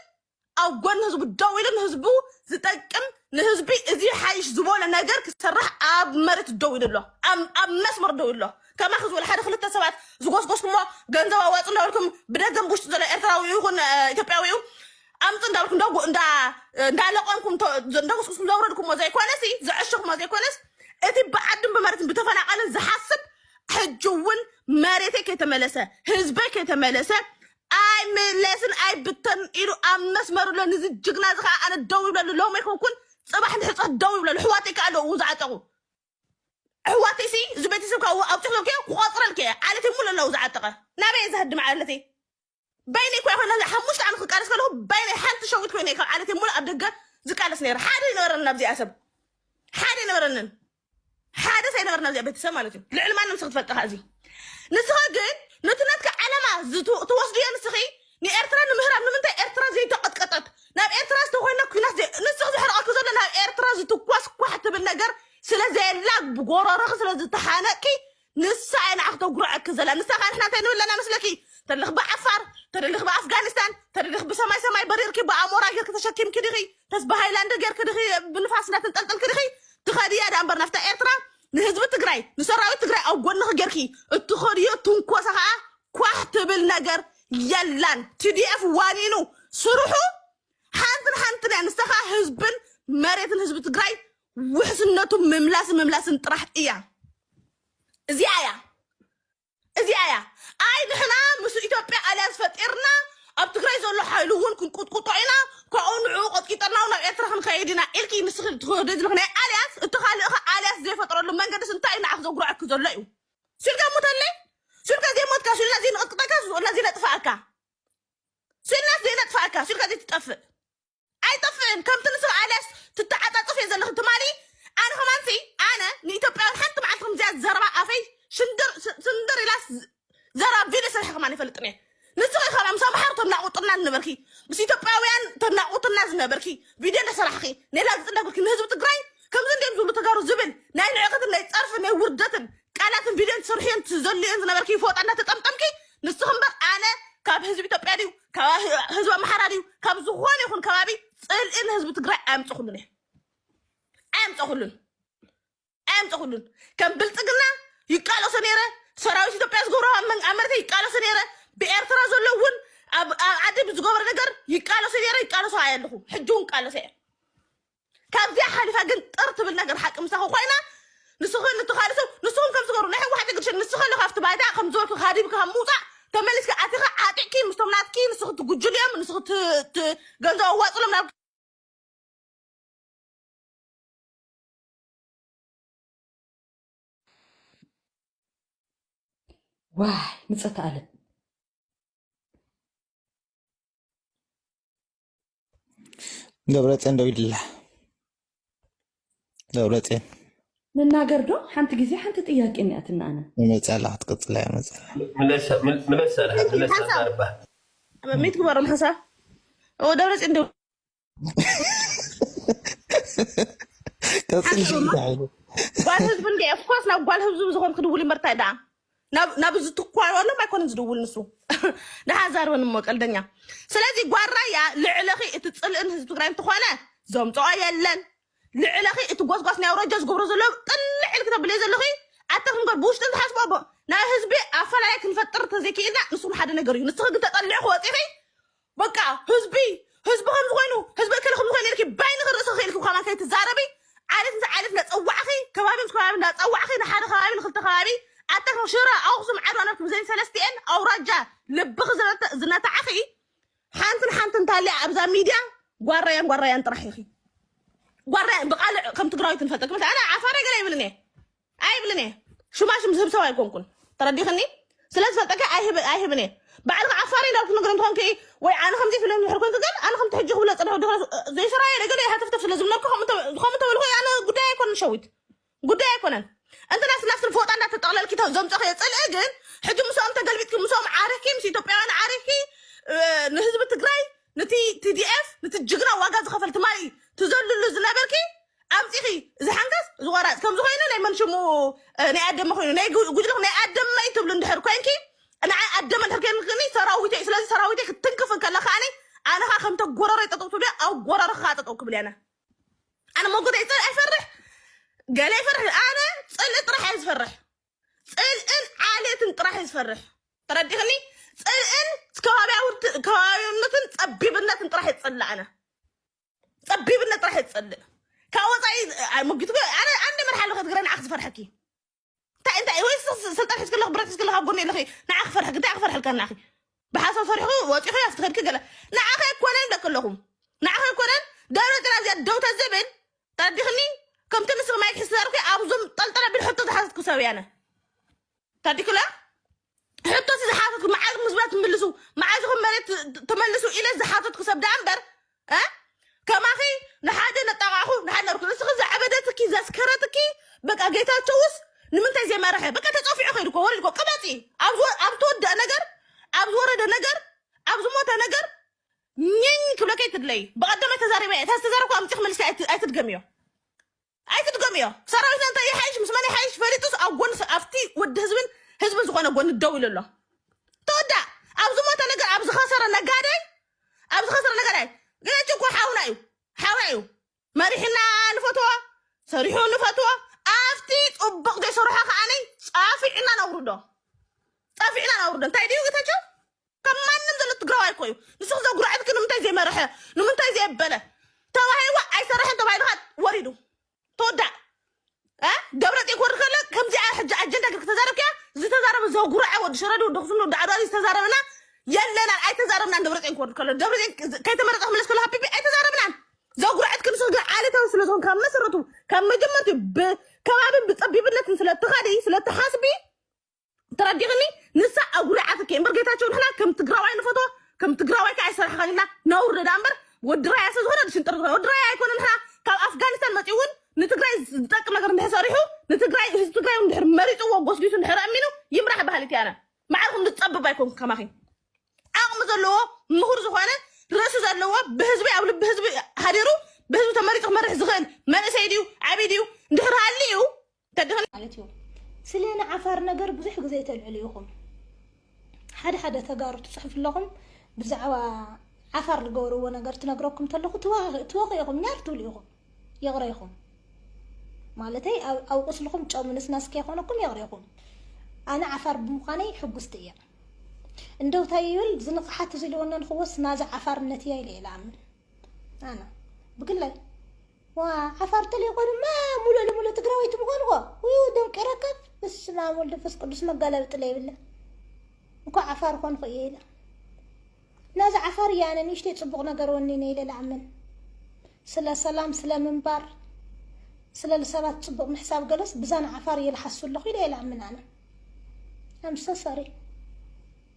ኣብ ጎኒ ህዝቡ ደው ኢሉ ንህዝቡ ዝጠቅም ንህዝቢ እዚ ሓይሽ ዝበሎ ነገር ክሰራሕ ኣብ መሬት ደው ኢሉ ኣሎ ኣብ ኣብ መስመር ደው ኢሉ ኣሎ ከማኺ ዝበሉ ሓደ ክልተ ሰባት ዝጎስጎስኩሞ ገንዘብ ኣዋፅ እንዳበልኩም ብደገም ብውሽጢ ዘሎ ኤርትራዊ ይኹን እ፣ ኢትዮጵያዊ እዩ ኣምፅ እንዳበልኩም እንዳ እንዳ እንዳለቀምኩም ተ- እንዳጎስጎስኩም ዘውረድኩሞ ዘይኮነስ እዩ፣ ዘዐሸኹሞ ዘይኮነስ እቲ ብዓድን ብመሬትን ብተፈናቀልን ዝሓስብ ሕጂ እውን መሬተይ ከይተመለሰ ህዝበይ ከይተመለሰ ኣይምለስን ኣይብተንን ኢሉ ኣብ መስመሩ ኣሎ ንዚ ጅግና እዚ ከዓ ኣነ ደው ይብለሉ ሎም ኣይኮንኩን ፅባሕ ንሕፀት ደው ይብለሉ ኣሕዋተይ ከዓ ኣለዉ ዝዓጠቑ ኣሕዋተይ ሲ እዚ ቤተሰብ ካብ ኣውፅኽለልከ ክቆፅረልከ ዓለተይ ሙሉ ኣለዉ ዝዓጠቐ ናበይ እየ ዝሃድም ዓለተይ በይነይ ኮ ይኮነ እዚ ሓሙሽተ ዓመት ክቃለስ ከለኹ በይነይ ሓንቲ ሸዊት ኮይነ ካብ ዓለተይ ሙሉ ኣብ ደገ ዝቃለስ ነይረ ሓደ ይነበረንን ኣብዚኣ ሰብ ሓደ ይነበረንን ሓደ ሰይ ነገር ናብዚኣ ቤተሰብ ማለት እዩ ልዕሊ ማንም ንስኺ ትፈልጥኻ እዚ ንስኺ ግን ነቲ ነትኪ ዓለማ ትወስዱ እየ ንስኺ ንኤርትራ ንምህራም ንምንታይ ኤርትራ ዘይተቐጥቀጠት ናብ ኤርትራ ዝተኮይነ ኩናት ንስኺ ዝሕርቐኪ ዘሎ ናብ ኤርትራ ዝትኮስ ኳሕ ትብል ነገር ስለ ዘየላ ብጎረሮኺ ስለ ዝተሓነቅኪ ንሳ እያ ንዓኺ ተጉርዐኪ ዘላ ንሳ ከ ንሕና እንታይ ንብል ኣለና መስለኪ ተደለኺ ብዓፋር ተደለኺ ብኣፍጋኒስታን ተደለኺ ብሰማይ ሰማይ በሪርኪ ብኣሞራ ጌርኪ ተሸኪምኪ ዲኺ ተስ ብሃይላንድ ጌርኪ ዲኺ ብንፋስ እንዳተንጠልጠልኪ ዲኺ ትኸድያ ዳኣ እምበር ናፍታ ኤርትራ ንህዝቢ ትግራይ ንሰራዊት ትግራይ ኣብ ጎንኺ ጌርኪ እትኸድዮ ትንኮሳ ከዓ ኳሕ ትብል ነገር የላን ቲዲኤፍ ዋኒኑ ስርሑ ሓንትን ሓንትን እያ ንሳ ከዓ ህዝብን መሬትን ህዝቢ ትግራይ ውሕስነቱ ምምላስን ምምላስን ጥራሕ እያ። እዚኣ እያ እዚኣ እያ ኣይ ንሕና ምስ ኢትዮጵያ ኣልያንስ ፈጢርና ኣብ ትግራይ ዘሎ ሓይሉ እውን ክንቁጥቁጦ ኢና ካብኡ ንዕኡ ቆጥቂጠና እውን ኣብ ኤርትራ ክንከይድ ኢና ኢልኪ ንስኺ ትኸዶ ዘለኺ ናይ ኣልያንስ እቲ ካልእ ኸ ኣልያንስ ዘይፈጥረሉ መንገድስ እንታይ እዩ ንዓኺ ዘጉርዐኪ ዘሎ እዩ ስልካ ሙተለይ ስልካ ዘይሞትካ ስልና ዘይንቕጥቅጠካ ስልና ዘይነጥፍኣካ ስልናስ ዘይነጥፍኣካ ስልካ ዘይትጠፍእ ኣይጠፍእን ከምቲ ንስብ ኣልያስ ትተዓጻጸፍ እየ ዘለኺ ትማሊ ኣነ ከማንሲ ኣነ ንኢትዮጵያውያን ሓንቲ መዓልቲ ከምዚኣ ዘረባ ኣፈይ ሽንድር ስ- ስንድር ኢላስ ዝ- ዘረባ ቪድዮ ስርሒ ከማን ይፈልጥን እየ ንስኺ ከማ ምስ ኣምሓሩ ተናቑጥና ዝነበርኪ ምስ ኢትዮጵያውያን ተናቑትና ዝነበርኪ ቪድዮ እንዳሰራሕኺ ኔላ ዝፅደግርኪ ንህዝቢ ትግራይ ከምዚ እንዲም ዝብሉ ተጋሩ ዝብል ናይ ንዕቀትን ናይ ፀርፍን ናይ ውርደትን ቃላትን ቪድዮን ትስርሑ እየን ትዘሉ እየን ዝነበርኪ ይፈወጣ እንዳተጠምጠምኪ ንስኺ እምበር ኣነ ካብ ህዝቢ ኢትዮጵያ ድዩ ካብ ህዝቢ ኣምሓራ ድዩ ካብ ዝኾነ ይኹን ከባቢ ፅልኢ ንህዝቢ ትግራይ ኣየምፀኹሉን እየ ኣየምፀኹሉን ኣየምፀኹሉን ከም ብልፅግና ይቃለሶ ነይረ ሰራዊት ኢትዮጵያ ዝገብሮ ኣብ መን- ኣብ መሬተይ ይቃለሶ ነይረ ብኤርትራ ዘሎ እውን ኣብ ኣብ ዓዲ ብዝገበረ ነገር ይቃለሶ ነይረ ይቃለሶ ኣየ ኣለኹ ሕጂ እውን ቃለሶ እየ ካብዚኣ ሓሊፋ ግን ጥር ትብል ነገር ሓቂ ምሳኹ ኮይና ንስኽን እቲ ካልእ ሰብ ንስኹም ከም ዝገሩ ናይ ሕወሓት እግድሽን ንስኸ ኣሎ ካብቲ ባይታ ከም ዝበልኩ ሃዲብካ ካብ ምውፃእ ተመሊስካ ኣቲኻ ዓጢቕኪ ምስቶም ናትኪ ንስኽ ትጉጅልዮም ንስኽ ት- ት- ገንዘብ ኣዋፅሎም ናብ ዋይ ምጸተ ኣለም ደብረፅዮን ዶ ይድላ ደብረፅዮን ንናገር ዶ ሓንቲ ግዜ ሓንቲ ጥያቄ እኒኣትና ኣነ መፅኣላ ክትቅፅላ እያ መፅኣላ ምለሰ- ምል- ምለሰ ኣልሃ፣ ምለሰ ኣልሃ ኣርባ። ሚት ግበሮም ሓሳብ እዎ ደብረፅዮን ዶ ቀፅል ሽግዳ ጓል ህዝቢ እንደ ኦፍኮርስ ናብ ጓል ህዝቢ ዝኾንክ ድውል እምበር እንታይ ደኣ ናብ ናብ እዚ ትኳረሎም ኣይኮነን ዝድውል ንሱ ድሓ ዛርበን እሞ ቀልደኛ ስለዚ ጓል ራያ ልዕለኺ እቲ ፅልእን ህዝቢ ትግራይ እንትኾነ ዘምፅኦ የለን ልዕለኺ እቲ ጎስጓስ ናይ ኣውራጃ ዝገብሮ ዘሎ ጥልዕ ኢልክ ተብልዮ ዘለኺ ኣታ ክንገር ብውሽጢ እንትሓስቦ ኣቦ ናይ ህዝቢ ኣፈላላይ ክንፈጥር ተዘይክኢልና ንሱ ሓደ ነገር እዩ ንስኺ ግን ተጠሊዕኺ ወፂኺ በቃ ህዝቢ ህዝቢ ከምዚ ኮይኑ ህዝቢ እከለ ከምዚ ኮይኑ ኢልኪ ባይ ንክርእሲ ክኢልኪ ብካማ ከይትዛረቢ ዓሌት ምስ ዓሌት እንዳፀዋዕኺ ከባቢ ምስ ከባቢ እንዳፀዋዕኺ ንሓደ ከባቢ ንክልተ ከባቢ ኣተክ ሽረ ኣክሱም ዓድዋ ነርክብ ዘን ሰለስቲኤን ኣውራጃ ልብኺ ዝነተ- ዝነታዕኺ ሓንትን ሓንትን እንታሊኣ ኣብዛ ሚድያ ጓራያን ጓራያን ጥራሕ ኢኺ ጓራያን ብቃልዕ ከም ትግራዊት ንፈልጠኪ መስ ኣነ ዓፋረ ገለ ይብልን እየ ኣይብልን እየ ሹማሽም ዝህብ ሰብ ኣይኮንኩን ተረዲኽኒ ስለ ዝፈልጠካ ኣይህብ- ኣይህብን እየ ባዕልኻ ዓፋሪ ዶ ክትነግሮም ትኾን ክኢ ወይ ኣነ ከምዚ ኢሉ ድሕር ኮንኩ ግን ኣነ ከምቲ ሕጂ ክብሎ ዝጸንሑ ድሕረ ዘይሰራየ ነገደ ሃተፍተፍ ስለ ዝብለካ ከምኡ እንተ- ከምኡ እንተበልኩ ኣነ ጉዳይ ኣይኮነን ሸዊት ጉዳይ ኣይኮነን እንተ ናይ ስላፍትን ፎጣ እንዳተጠቕለልኪ ተ- ዘምጸኽዮ ጽልኢ ግን ሕጂ ምስኦም ተገልቢጥኪ ምስኦም ዓሪኽኪ ምስ ኢትዮጵያውያን ዓሪኽኪ እ፣ ንህዝቢ ትግራይ ነቲ ቲዲኤፍ ነቲ ጅግና ዋጋ ዝኸፈል ትማሊ ትዘልሉ ዝነበርኪ ኣምፂኺ እዚ ሓንካስ እዚ ቆራፅ ከምዚ ኮይኑ ናይ መን ሽሙ እ፣ ናይ ኣደመ ኮይኑ ናይ ጉ- ጉጅለኹ ናይ ኣደመይ ትብሉ እንድሕር ኮንኪ ንዓይ ኣደመ እንድሕር ከይንክኒ ሰራዊተይ እዩ። ስለዚ ሰራዊተይ ክትንክፍ ከላ ከዓኒ ኣነ ከዓ ከምተ ጎረረይ ጠጠው ትብሉ እያ፣ ኣብ ጎረረ ከዓ ጠጠው ክብል እየ ኣነ ኣነ መጎተይ ፅል ኣይፈርሕ ገለ ይፈርሕ ኣነ ፅልኢ ጥራሕ እየ ዝፈርሕ ፅልእን ዓሌትን ጥራሕ እየ ዝፈርሕ ተረዲኽኒ ፅልእን ከባቢያውት- ከባቢያውነትን ፀቢብነትን ጥራሕ እየ ዝፅላእ ኣነ ፀቢብነት ጥራሕ ዝፀልእ ካብ ወፃኢ ኣይመጊቱ ኣነ ኣንደ መርሓ ኣለኹ ትግራይ ንዓኽ ዝፈርሐኪ እንታይ እንታይ ወይ ስልጣን ሒዝክ ኣለኹ ብረት ሒዝክ ኣለኹ ኣብ ጎኒ ኣለኺ ንዓ ክፈርሐክ እንታይ ክፈርሐልካ ንዓኺ ብሓሳብ ሰሪሕኩ ወፂኹ ኣብቲ ከድኪ ገለ ንዓኸ ኣይኮነን ይብለክ ኣለኹ ንዓኸ ኣይኮነን ደብረ ፅና እዚኣ ደው ተዝብል ተረዲኽኒ ከምቲ ንስኽ ማይክ ሒዝ ተዛርብኪ ኣብዞም ጠልጠለ ብል ሕቶ ዝሓዘትኩ ሰብ እያ ኣነ ታዲክላ ሕቶ እቲ ዝሓተትኩ መዓዝ ምስብላ ትምልሱ መዓዝ ኢኹም መሬት ት- ትመልሱ ኢለ ዝሓተትኩ ሰብ ደኣ እምበር እ? ከማኺ ንሓደ ነጣቃዕኹ ንሓደ ነርኩ ንስኺ ዘዕበደትኪ ዘስከረትኪ በቃ ጌታቸውስ ንምንታይ ዘይመረሐ በቃ ተፀፊዑ ከይዱ እኮ ወሪዱ እኮ ቅበፂ ኣብ ዝወ- ኣብ ትወደእ ነገር ኣብ ዝወረደ ነገር ኣብ ዝሞተ ነገር ኝኝ ክብለከ ይትድለይ ብቐደመ ተዛሪበ እየ ተዝተዛረብኩ ኣምፂ ክመልሲ ኣይት- ኣይትድገምዮ ኣይትድገምዮ ሰራዊትና እንታይ ይሓይሽ ምስ መን ይሓይሽ ፈሊጡስ ኣብ ጎኒ ሰ- ኣብቲ ወዲ ህዝብን ህዝብን ዝኾነ ጎኒ ደው ኢሉ ኣሎ ተወዳእ ኣብ ዝሞተ ነገር ኣብ ዝኸሰረ ነጋዳይ ኣብ ዝኸሰረ ነጋዳይ ገጭ እኮ ሓውና እዩ ሓውና እዩ መሪሕና ንፈትዎ ሰሪሑ ንፈትዎ ኣብቲ ፅቡቕ ዘይሰርሖ ከዓነይ ፃፊዕና ነውርዶ ፃፊዕና ነውርዶ እንታይ ድዩ ጌታቸው ከም ማንም ዘሎ ትግራዋይ እኮ እዩ ንስኺ ዘጉረዐትኪ ንምንታይ ዘይመረሐ ንምንታይ ዘየበለ ተባሂልዋ ኣይሰረሐን ተባሂልካ ወሪዱ ተወዳእ እ? ደብረፅዮን ክወርድ ከሎ ከምዚኣ ሕጂ ኣጀንዳ ግን ከተዛረብኪያ ዝተዛረበ ዘጉረዐ ወዲ ሸረዲ ወዲ ኣክሱም ወዲ ዓድዋ ዝተዛረበና የለናን ኣይተዛረብናን ደብረፅዮን ክወርድ ከሎ ደብረፅዮን ከይተመረፀ ክመለስ ከሎ ሃፒፒ ኣይተዛረብናን ዘጉረዐት ክንስኽ ግን ዓሌታዊ ስለዝኾን ካብ መሰረቱ ካብ መጀመርትኡ ብከባብን ብፀቢብነትን ስለትኸዲ ስለትሓስቢ ተረዲኽኒ ንሳ ኣጉሪዓትኪ እምበር ጌታቸው ንሕና ከም ትግራዋይ ንፈትዎ ከም ትግራዋይ ከዓ ይሰርሕኸን ኢልና ነውሪ ዳ እምበር ወዲ ራያ ስለ ዝኾነ ሽንጥር ዝኾነ ወዲ ራያ ኣይኮነ ንሕና ካብ ኣፍጋኒስታን መፂኡ እውን ንትግራይ ዝጠቅም ነገር እንድሕር ሰሪሑ ንትግራይ ህዝቢ ትግራይ እውን እንድሕር መሪፅዎ ጎስጊሱ እንድሕር ኣሚኑ ይምራሕ በሃሊት እያነ ማዕርኹም ዝፀብብ ኣይኮንኩ ከማኺ ዓቕሚ ዘለዎ ምሁር ዝኾነ ርእሲ ዘለዎ ብህዝቢ ኣብ ልቢ ህዝቢ ሃዲሩ ብህዝቢ ተመሪፁ ክመርሕ ዝኽእል መንእሰይ ድዩ ዓብይ ድዩ እንድሕር ሃልዩ ተጋሩ ማለት እዩ ስለ ንዓፋር ነገር ብዙሕ ግዜ ተልዕሉ ኢኹም ሓደ ሓደ ተጋሩ ትጽሕፉ ኣለኹም ብዛዕባ ዓፋር ዝገበርዎ ነገር ትነግረኩም ተለኹ ትወኽ ኢኹም ኛር ትብሉ ኢኹም ይቕረ ኢኹም ማለተይ ኣብ ቁስልኹም ጨው ንስናስ ከይኮነኩም ይቕረ ኢኹም ኣነ ዓፋር ብምዃነይ ሕጉስቲ እየ እንደው እንታይ ይብል ዝንቕሓት ዝልወነን ክወስ ናዚ ዓፋርነት እያ ኢለ እየ ልኣምን ኣነ ብግላይ ዋ ዓፋር ተለይኮኑ ማ ሙሉእ ልሙሉእ ትግራወይቲ ምኾንዎ ውይ ደንቂረካ በስመ ኣብ ወልድ መንፈስ ቅዱስ መጋለብጢ ለይብለ እንኳ ዓፋር ኾንኹ እየ ኢለ ናዚ ዓፋር እየ ኣነ ንእሽተይ ፅቡቕ ነገር ወኒነ ኢለ ልኣምን ስለ ሰላም ስለ ምንባር ስለ ሰባት ፅቡቕ ምሕሳብ ገለስ ብዛን ዓፋር እየ ልሓሱ ኣለኹ ኢለ እየ ልኣምን ኣነ ኣምሰ ሰሪ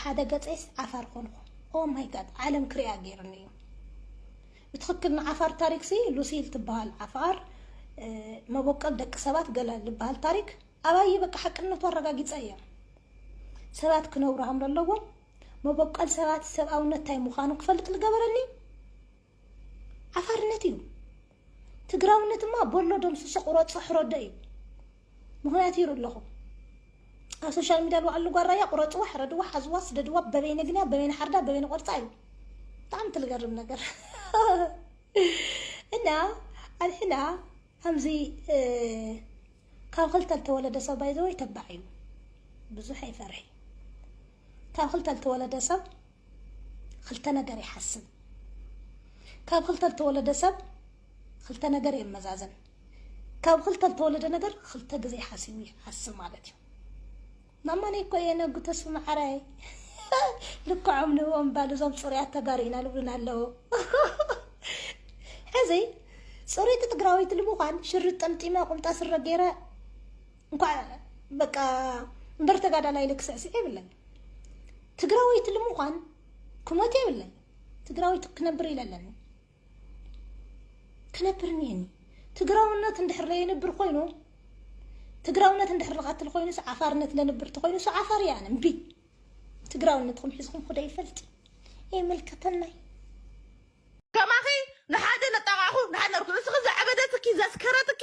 ሓደ ገጸይስ ዓፋር ኮንኩ ኦ ማይ ጋድ ዓለም ክሪኣ ገይርኒ እዩ ብትክክል ንዓፋር ታሪክ ሲ ሉሲል ትበሃል ዓፋር መቦቀል ደቂ ሰባት ገለ ዝበሃል ታሪክ ኣባየ በቃ ሓቅነቱ ኣረጋጊጸ እየ ሰባት ክነብሩ ሃም ኣለዎም መቦቀል ሰባት ሰብኣውነት ታይ ምዃኑ ክፈልጥ ዝገበረኒ ዓፋርነት እዩ ትግራውነት እማ በሎ ደምስሶ ቁረጾ ሕረዶ እዩ ምክንያት ይሩ ኣለኹ ኣብ ሶሻል ሚዲያ ልዋዕሉ ጓል ራያ ቁረጽዋ ሕረድዋ ሓዝዋ ስደድዋ በበይ ነግንያ በበይ ንሓርዳ በበይ ንቆርጻ እዩ ብጣዕሚ ትልገርም ነገር እና ኣንሕና ከምዚ ካብ ክልተ ዝተወለደ ሰብ ባይዘወይ ተባዕ እዩ ብዙሕ ኣይፈርሒ ካብ ክልተ ዝተወለደ ሰብ ኽልተ ነገር ይሓስብ። ካብ ኽልተ ልተወለደ ሰብ ኽልተ ነገር የመዛዝን። ካብ ኽልተ ልተወለደ ነገር ኽልተ ግዜ ሓሲቡ ይሓስብ ማለት እዩ። ማማነይ እኮ እየ ነጉ ተስፉ መዓራይ ልክዖም ንእኦም ባል እዞም ፅሩያት ተጋሩ ኢና ልብሉና ኣለዉ ሕዚ ፅሩይቲ ትግራወይቲ ንምዃን ሽርጥ ጠምጢመ ቁምጣ ስረ ገይረ እንኳዕ በቃ እምበር ተጋዳላይ ኢለ ክስዕስዕ የብለይ ትግራወይቲ ልምዃን ክሞት የብለይ ትግራወይቲ ክነብር ኢለ ኣለኒ ክነብር እኒሀኒ ትግራውነት እንድሕር ለየንብር ኮይኑ ትግራውነት እንድሕር ልቐትል ኮይኑ ሱ ዓፋርነት ለንብር ተኮይኑ ሱ ዓፋር እያ ኣነ እምቢ ትግራውነትኩም ሒዝኩም ክደ ይፈልጥ የመልከተናይ ከማኺ ንሓደ ነጣቃኹ ንሓደ ነርኩ ንስኺ ዘዕበደትኪ ዘስከረትኪ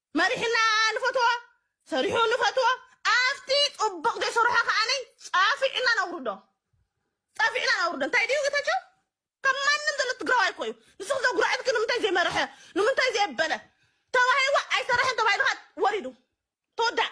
መሪሕና ንፈትዎ ሰሪሑ ንፈትዎ ኣብቲ ጽቡቅ ዘይሰርሖ ከኣ ጻፊዕና ነውርዶ ጻፊዕና ነውርዶ እንታይ ድዩ ጌታቸው ከም ማንም ዘሎ ትግራዋይ እኮ እዩ ንስኺ ዘጉረዐትኪ ንምንታይ ዘይመረሐ ንምንታይ ዘየበለ ተባሂልዋ ኣይሰረሐን ተባሂልካ ወሪዱ ተወዳእ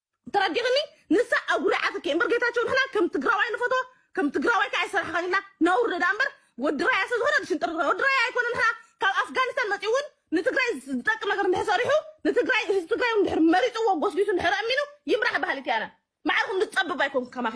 ተረዲኽኒ ንሳ ኣጉሪዓትኪ እምበር ጌታቸው ንሕና ከም ትግራዋይ ንፈትዎ ከም ትግራዋይ ከዓ ይሰርሐኸን ኢልና ነውርዶ ደኣ እምበር ወዲ ራያ ስለ ዝኾነ ሽንጥር ትግራይ ወዲ ራያ ኣይኮነ ንሕና ካብ ኣፍጋኒስታን መፂኡ እውን ንትግራይ ዝጠቅም ነገር እንድሕር ሰሪሑ ንትግራይ ህዝቢ ትግራይ እውን እንድሕር መሪፅዎ ጎስጒሱ እንድሕር ኣሚኑ ይምራሕ በሃሊት እያ ኣነ ማዕርኹም ዝፀብብ ኣይኮንኩ ከማኺ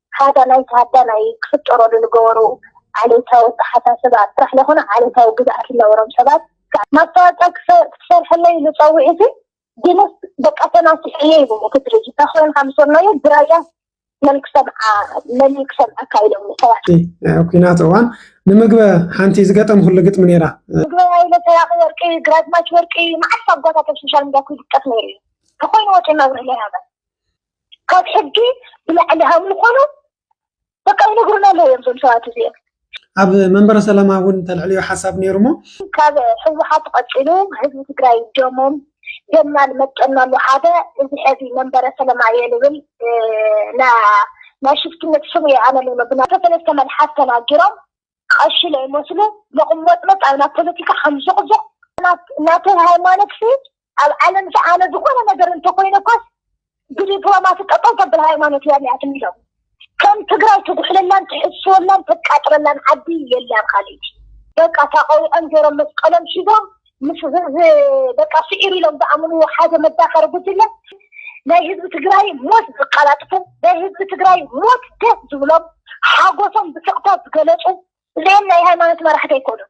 ሃዳናይ ተሃዳናይ ክፍጠረሉ ልገበሩ ዓሌታዊ ኣተሓሳስባ ጥራሕ ለይኮነ ዓሌታዊ ግዝኣት ልነበሮም ሰባት ማስታወቂያ ክትሰርሐለይ ኢሉ ፀዊዑሲ ግንስ በቃ ተናሲሐ እየ ኢሉኒ እቲ ድርጅት እንታይ ኮይንካ ምስ በልናዮ ብራያ መን ክሰምዓ መን እዩ ክሰምዐካ ኢሎምኒ ሰባት። እቲ ናይ ኩናት እዋን ንምግበ ሓንቲ ዝገጠምኩሉ ግጥሚ ነይራ። ምግበ ሃይለ ሰራቂ ወርቂ ግራዝማች ወርቂ መዓስ ኣጓታት ኣብ ሶሻል ሚድያ ክውድቀት ነይሩ እዩ እንተኾይኑ ወፂኡ መብርሂ ለይሃበ። ካብ ሕጊ ብላዕሊ ሃብ ምዃኑ በቃ ይነግሩና ኣለዉ እዮም እዞም ሰባት እዚኦም ኣብ መንበረ ሰላማ እውን ተልዕልዮ ሓሳብ ነይሩ እሞ ካብ ህወሓት ቀፂሉ ህዝቢ ትግራይ ደሞም ደምና ንመጠናሉ ሓደ እዚ ሕዚ መንበረ ሰላማ እየ ልብል ናይ ሽፍትነት ስም እየ ኣነ ልብሎ ብና ሰለስተ መልሓስ ተናጊሮም ቐሺ ለይመስሉ ሎቕሞጽሞጽ ኣብ ናብ ፖለቲካ ሓምዞቕዞቕ ናተይ ሃይማኖትሲ ኣብ ዓለምሲ ኣነ ዝኾነ ነገር እንተኾይነ እኳስ ብዲፕሎማሲ ጠጠው ተብል ሃይማኖት እያ እኒኣትኒ ኢሎም ከም ትግራይ ትጉሕለላን ትሕስወላን ተቃጥረላን ዓዲ የላን ኻሊእቲ በቃ ታቐዊዖም ጌሮም መስቀሎም ሒዞም ምስ በቃ ስዒሩ ኢሎም ዝኣምንዎ ሓደ መዳኸሪ ጉጅለ ናይ ህዝቢ ትግራይ ሞት ዝቃላጥፉ፣ ናይ ህዝቢ ትግራይ ሞት ደስ ዝብሎም፣ ሓጎሶም ብስቕታ ዝገለፁ፣ እዚኦም ናይ ሃይማኖት መራሕቲ ኣይኮኑን።